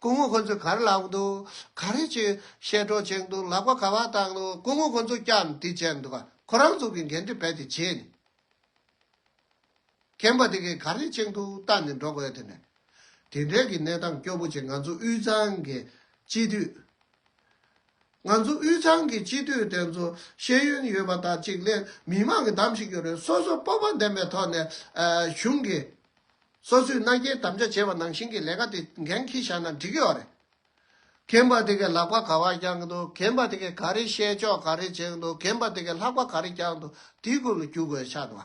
Speaker 1: སྐུ་ངོ་ཁོ་ཚོས་གར་ལག་ཏུ་ག་རེ་བྱེད། ཤེལ་སྒྲོག་ཅན་དུ་ལག་པ་ག་བ་བཏགས་འདུག་སྐུ་ངོ་ཁོ་ཚོ་སྐྱབས་འདི་བྱས་འདུག་ག་ཁོ་རང་ཚོ་གི་འགན་འཁྲི་རྦད་དེ་བྱས་ནས། ཁྱེད་པ་དེ་གས་ག་རེ་བྱེད་འདུག་བལྟ་ནས་འགྲོ་དགོས་དེ་ནས། དེ་འདྲའི་གི་གནས་སྟངས་སྐྱོ་པོ་ཅིག་ང་ཚོ་དབུས་གཙང་གི་སྤྱི་འཐུས། ང་ཚོ་དབུས་གཙང་གི་སྤྱི་འཐུས་དེ་ཚོ་ཤེས་ཡོན་ཡོད་པ་དག་ཅིག་ལས་མི་མང་གི་གདམ་ཞིག་ཡོད་རེད་སོ་སོ་སྤོབས་པ་ལྡན་པའི་ཐོག་ནས་གཞུང་གི། སོ་སོའི་རྣ་རྒྱན་དམ་བཅའ་བྱས་པ་ནང་བཞིན་གྱི་ལས་ཀ་དེ་འགན་ཁྱི་བཞག་ན་འགྲིག་གི་ཨོ་རེད། མཁན་པ་དེ་གས་ལག་པ་ག་བ་བརྐྱང་གི་འདུག་མཁན་པ་དེ་གས་ག་རེ་བཤད་ཆོག་ག་རེ་བྱེད་གི་འདུག་མཁན་པ་དེ་གས་ལྷག་པ་ག་རེ་བརྐྱང་འདུག་དེའི་སྐོར་ལ་རྒྱུགས་དགོས་ཆགས་འདུག་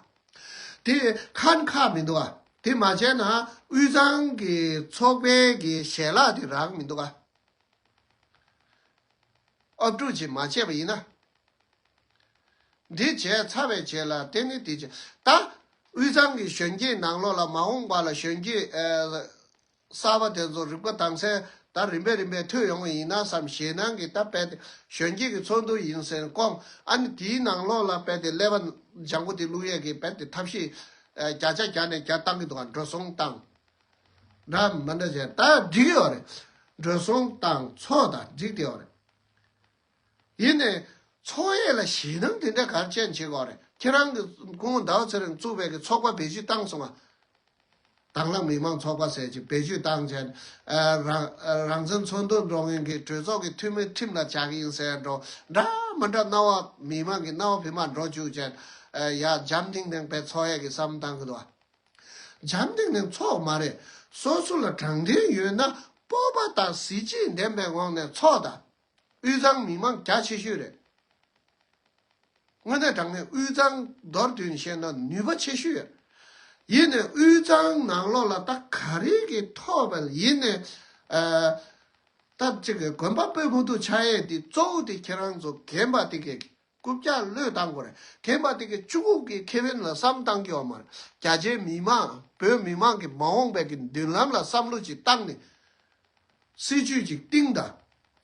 Speaker 1: དེ་ཁན་ཁག་མི་འདུག་ཨ། དེ་མ་བྱས་ན་དབུས་གཙང་གི་ཚོགས་པའི་གི་ཞལ་ལག་དེ་རག་མི་འདུག་ཨ། ཨབ་ཀྲུག་ཅིག་མ་བྱས་པ་ཡིན་ན་འདི་བྱས་ཚར་བས་བྱས་ལ་དེ་ནི་དེ་བྱས། ད་དབུས་གཙང་གི་གཞོན་སྐྱེས་ནང་ལོགས་ལ་མ་འོངས་པ་ལ་གཞོན་སྐྱེས་གསར་པ་དེ་ཚོ་རིག་པ་དྭངས་གསལ་ད་རིམ་པས་རིམ་པས་ཐོས་ཡོང་བ་ཡིན་ན་བསམ་ཞེད་སྣང་གིས་ད་དཔལ་ལྡན་གཞོན་སྐྱེས་ཀྱི་ཚོགས་འདུ་ཡིན་ཟེར་སྐོང་ཨ་ནི་དེའི་ནང་ལོགས་ལ་དཔལ་ལྡན་ཀླད་པ་ལྗང་ཁུ་དེ་བླུགས་ཡས་ཀྱིས་དཔལ་ལྡན་ཐབས་ཤེས་བརྒྱ་ཆ་བརྒྱ་ནས་བརྒྱ་བཏང་གི་འདུག་ག་འགྲོ་སོང་བཏང། འདྲ་མི་འདྲ་བྱས་ད་འགྲིག་ཡོད་རེད། འགྲོ་སོང་བཏང་ཚོགས་ད་འགྲིག་བསྡད་ཡོད་རེད། ཡིན་ནས། ཚོགས་གཡས་ལ་ཞེད་སྣང་དེ་འདྲ་གར་ཅན་བྱེད་དགོས་རེད་ཁྱེད་རང་གི་སྐུ་ངོ་ཟླ་བ་ཚེ་རིང་གཙུག་ཕལ་གྱི་ཚོགས་པ་བེད་སྤྱོད་བཏང་སོང་ང། དྭང་བླངས་མི་མང་ཚོགས་པ་ཟེར་གྱི་བེད་སྤྱོད་བཏང་བྱས་ནས། རང་བཙན་འཚོལ་འདོད་འགྲོ་མཁན་གྱི་གྲོས་ཚོགས་ཀྱི་འཐུས་མི་ཁྲིམས་ལ་བཅའ་གི་ཡིན་ཟེར་འགྲོ་འདྲ་མི་འདྲ་རྣ་བ་མི་མང་གི་རྣ་བ་བི་མ་འགྲོ་བཅུག་བྱས་ནས། ཡ་འཇམ་ཐིང་ཐིང་བས་ཚོགས་གཡས་ཀྱི་བསམ་བཏང་གི་འདུག་ཨ། འཇམ་ཐིང་ཐིང་ཚོགས་མ་རེད། སོ་སོ་ལ་དྲང་བདེན་ཡོད་ན་སྤོབས་པ་དང་གཟི་བརྗིད་ལྡན་པའི་ངང་ནས་ཚོགས་དང། དབུས་གཙང་མི་མང་རྒྱ་ཆེ་ཤོས་རེད། དངོས་གནས་དྲང་གནས་དབུས་གཙང་མདོར་བསྡུས་ནས་བཤད་ན་ནུས་པ་ཆེ་ཤོས་ཡོད། ཡིན་ནས་དབུས་གཙང་ནང་ལོགས་ལ་ད་ག་རེ་གི་ཐོབ་བལ་ཡིན་ནས་ད་ཅིག་དགོན་པ་སྤོས་ཕུག་ཏུ་ཆགས་ཡས་དེ་གཙོ་བོ་དེ་ཁྱེད་རང་ཚོ་རྒན་པ་དེ་གས་རྐུབ་བཀྱག་བློས་བཏང་དགོས། དེ་མ་ཐེག་གི་ཅུ་ཀུག་གི་ཁེ་ཕན་ལ་བསམ་བཏང་གི་བ་མ་རེད། རྒྱ་ཆེའི་མི་དམངས་བོད་མི་དམངས་ཀྱི་མ་འོངས་པའི་གི་མདུན་ལམ་ལ་བསམ་བློ་ཅིག་བཏང་ནས། སྲིད་ཇུས་ཅིག་བཏིང་དང།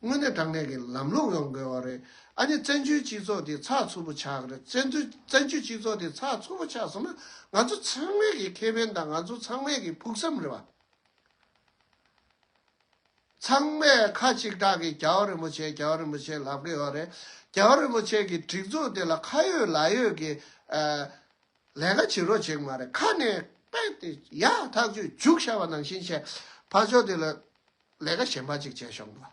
Speaker 1: དངོས་གནས་དྲང་གནས་གི་ལམ་ལུགས་ཡོང་དགོས་བ་རེད། ཨ་ནི་བཙན་བྱོལ་སྤྱི་ཚོགས་དེ་ཚགས་ཚུད་པོ་ཆགས་གི་རེད། བཙན་བཙན་བྱོལ་སྤྱི་ཚོགས་དེ་ཚགས་ཚུད་པོ་ཆགས་སོང་ན། ང་ཚོ་ཚང་མའི་གི་ཁེ་ཕན་དང་ང་ཚོ་ཚང་མའི་གི་ཕུགས་བསམ་རེད་བ། ཚང་མས་ཁ་གཅིག་གྲགས་ཀྱིས་རྒྱལ་བ་རིན་པོ་ཆེ་རྒྱལ་བ་རིན་པོ་ཆེ་ལབ་ཀྱི་ཡོད་རེད། རྒྱལ་བ་རིན་པོ་ཆེ་གི་སྒྲིག་འཛུགས་དེ་ལ་ཁ་ཡོད་ལག་ཡོད་ཀྱི་ལས་ཀ་བྱེད་རོགས་བྱེད་ཀྱི་མ་རེད་ཁ་ནས་པད་དེ་ཡག་ཐག་ཆོད་རྒྱུགས་ཤ་བ་ནང་བཞིན་བྱས་ཕར་ཕྱོགས་དེ་ལ་ལས་ཀ་གཞན་པ་གཅིག་བྱས་ཤོག་འགྲོ།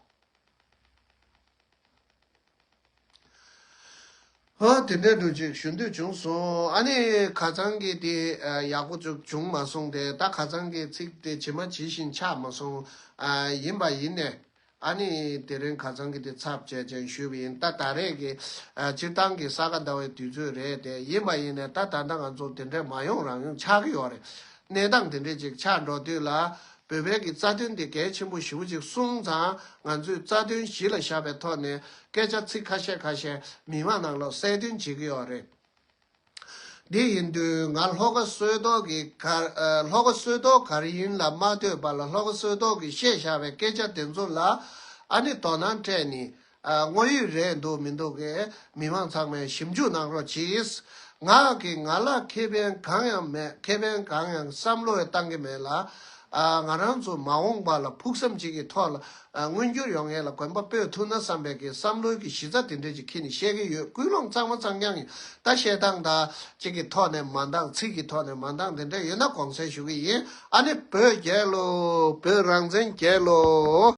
Speaker 1: དེ་འདྲའི་འགྲོ་ཅིག་ཞུ་འདོད་བྱུང་སོང། ཨ་ནི། ག་ཚང་གི་དེ་ཡག་པོ་ཅུག་བྱུང་མ་སོང་སྟེ་ད་ག་ཚང་གི་ཚིག་དེ་ཇི་མ་ཇི་བཞིན་ཆགས་མ་སོང། ཡིན་པ་ཡིན་ནས། ཨ་ནི། དེ་རིང་ག་ཚང་གི་དེ་ཚབ་བྱས་ཅན་ཞུས་པ་ཡིན་ད་ད་རེས་ཀྱི། སྤྱིར་བཏང་གི་ས་ག་ཟླ་བའི་དུས་ཚོད་རེད་དེ་ཡིན་པ་ཡིན་ནས་ད་ད་ལྟ་ང་ཚོ་དེ་འདྲའི་མ་ཡོང་རང་ཡོང་ཆགས་ཀྱི་ཡོད་རེད། གནས་སྟངས་དེ་འདྲའི་ཅིག་ཆགས་འགྲོ་དུས་ལ། བོད་བོད་ཀྱི་རྩ་དོན་དེ་གལ་ཆེན་པོ་བཞི་བོ་ཅིག་གསུངས་ཙང་ང་ཚོས་རྩ་དོན་བཞི་ལ་བཞག་པའི་ཐོག་ནས་སྐད་ཆ་ཚིག་ཁ་ཤས་ཁ་ཤས་མི་མང་ནང་ལོག་གསལ་སྟོན་བྱེད་ཀྱི་ཡོད་རེད། དེ་ཡིན་དུས་ང་ལྷོ་ཁ་བསོད་རྡོག་གི་གར་ལྷོ་ཁ་བསོད་རྡོག་གར་ཡིན་ལ་མ་ལྟོས་པ་ལ་ལྷོ་ཁ་བསོད་རྡོག་གིས་བཤད་བཞག་པའི་སྐད་ཆ་དེ་ཚོ་ལ་ཨ་ནི་དོ་སྣང་སྤྲད་ནས་དངོས་ཡོད་རེད་འདུག་མི་འདུག་གས་མི་མང་ཚང་མས་ཞིབ་འཇུག་གནང་རོགས་གྱིས། ང་གིས་ང་ལ་ཁེ་ཕན་གང་ཡང་མེད་ཁེ་ཕན་གང་ཡང་བསམ་བློ་ཡང་གཏང་གི་མེད་ལ། ང་རང་ཚོ་མ་འོངས་པ་ལ་ཕུགས་བསམ་གཅིག་གི་ཐོག་ལ་མངོན་འགྱུར་ཡོང་ངེས་ལ་གོན་པ་སྤོས་ཐུབ་ན་བསམ་པའི་གི་བསམ་བློའི་གི་གཞི་རྩ་དེ་འདྲས་ཅིག་ཁྱེད་ནས་བཤད་གི་ཡོད་ཀུན་སློང་གཙང་མ་གཙང་རྐྱང་ཡིན་ད་བཤད་སྟངས་དང་གཅིག་གི་ཐོག་ནས་མ་འདང་ཚིག་གི་ཐོག་ནས་མ་འདང་དེ་འདྲས་ཡོད་ན་དགོངས་སེལ་ཞུ་གི་ཡིན་ཨ་ནི་བོད་རྒྱལ་ལོ་བོད་རང་བཙན་རྒྱལ་ལོ།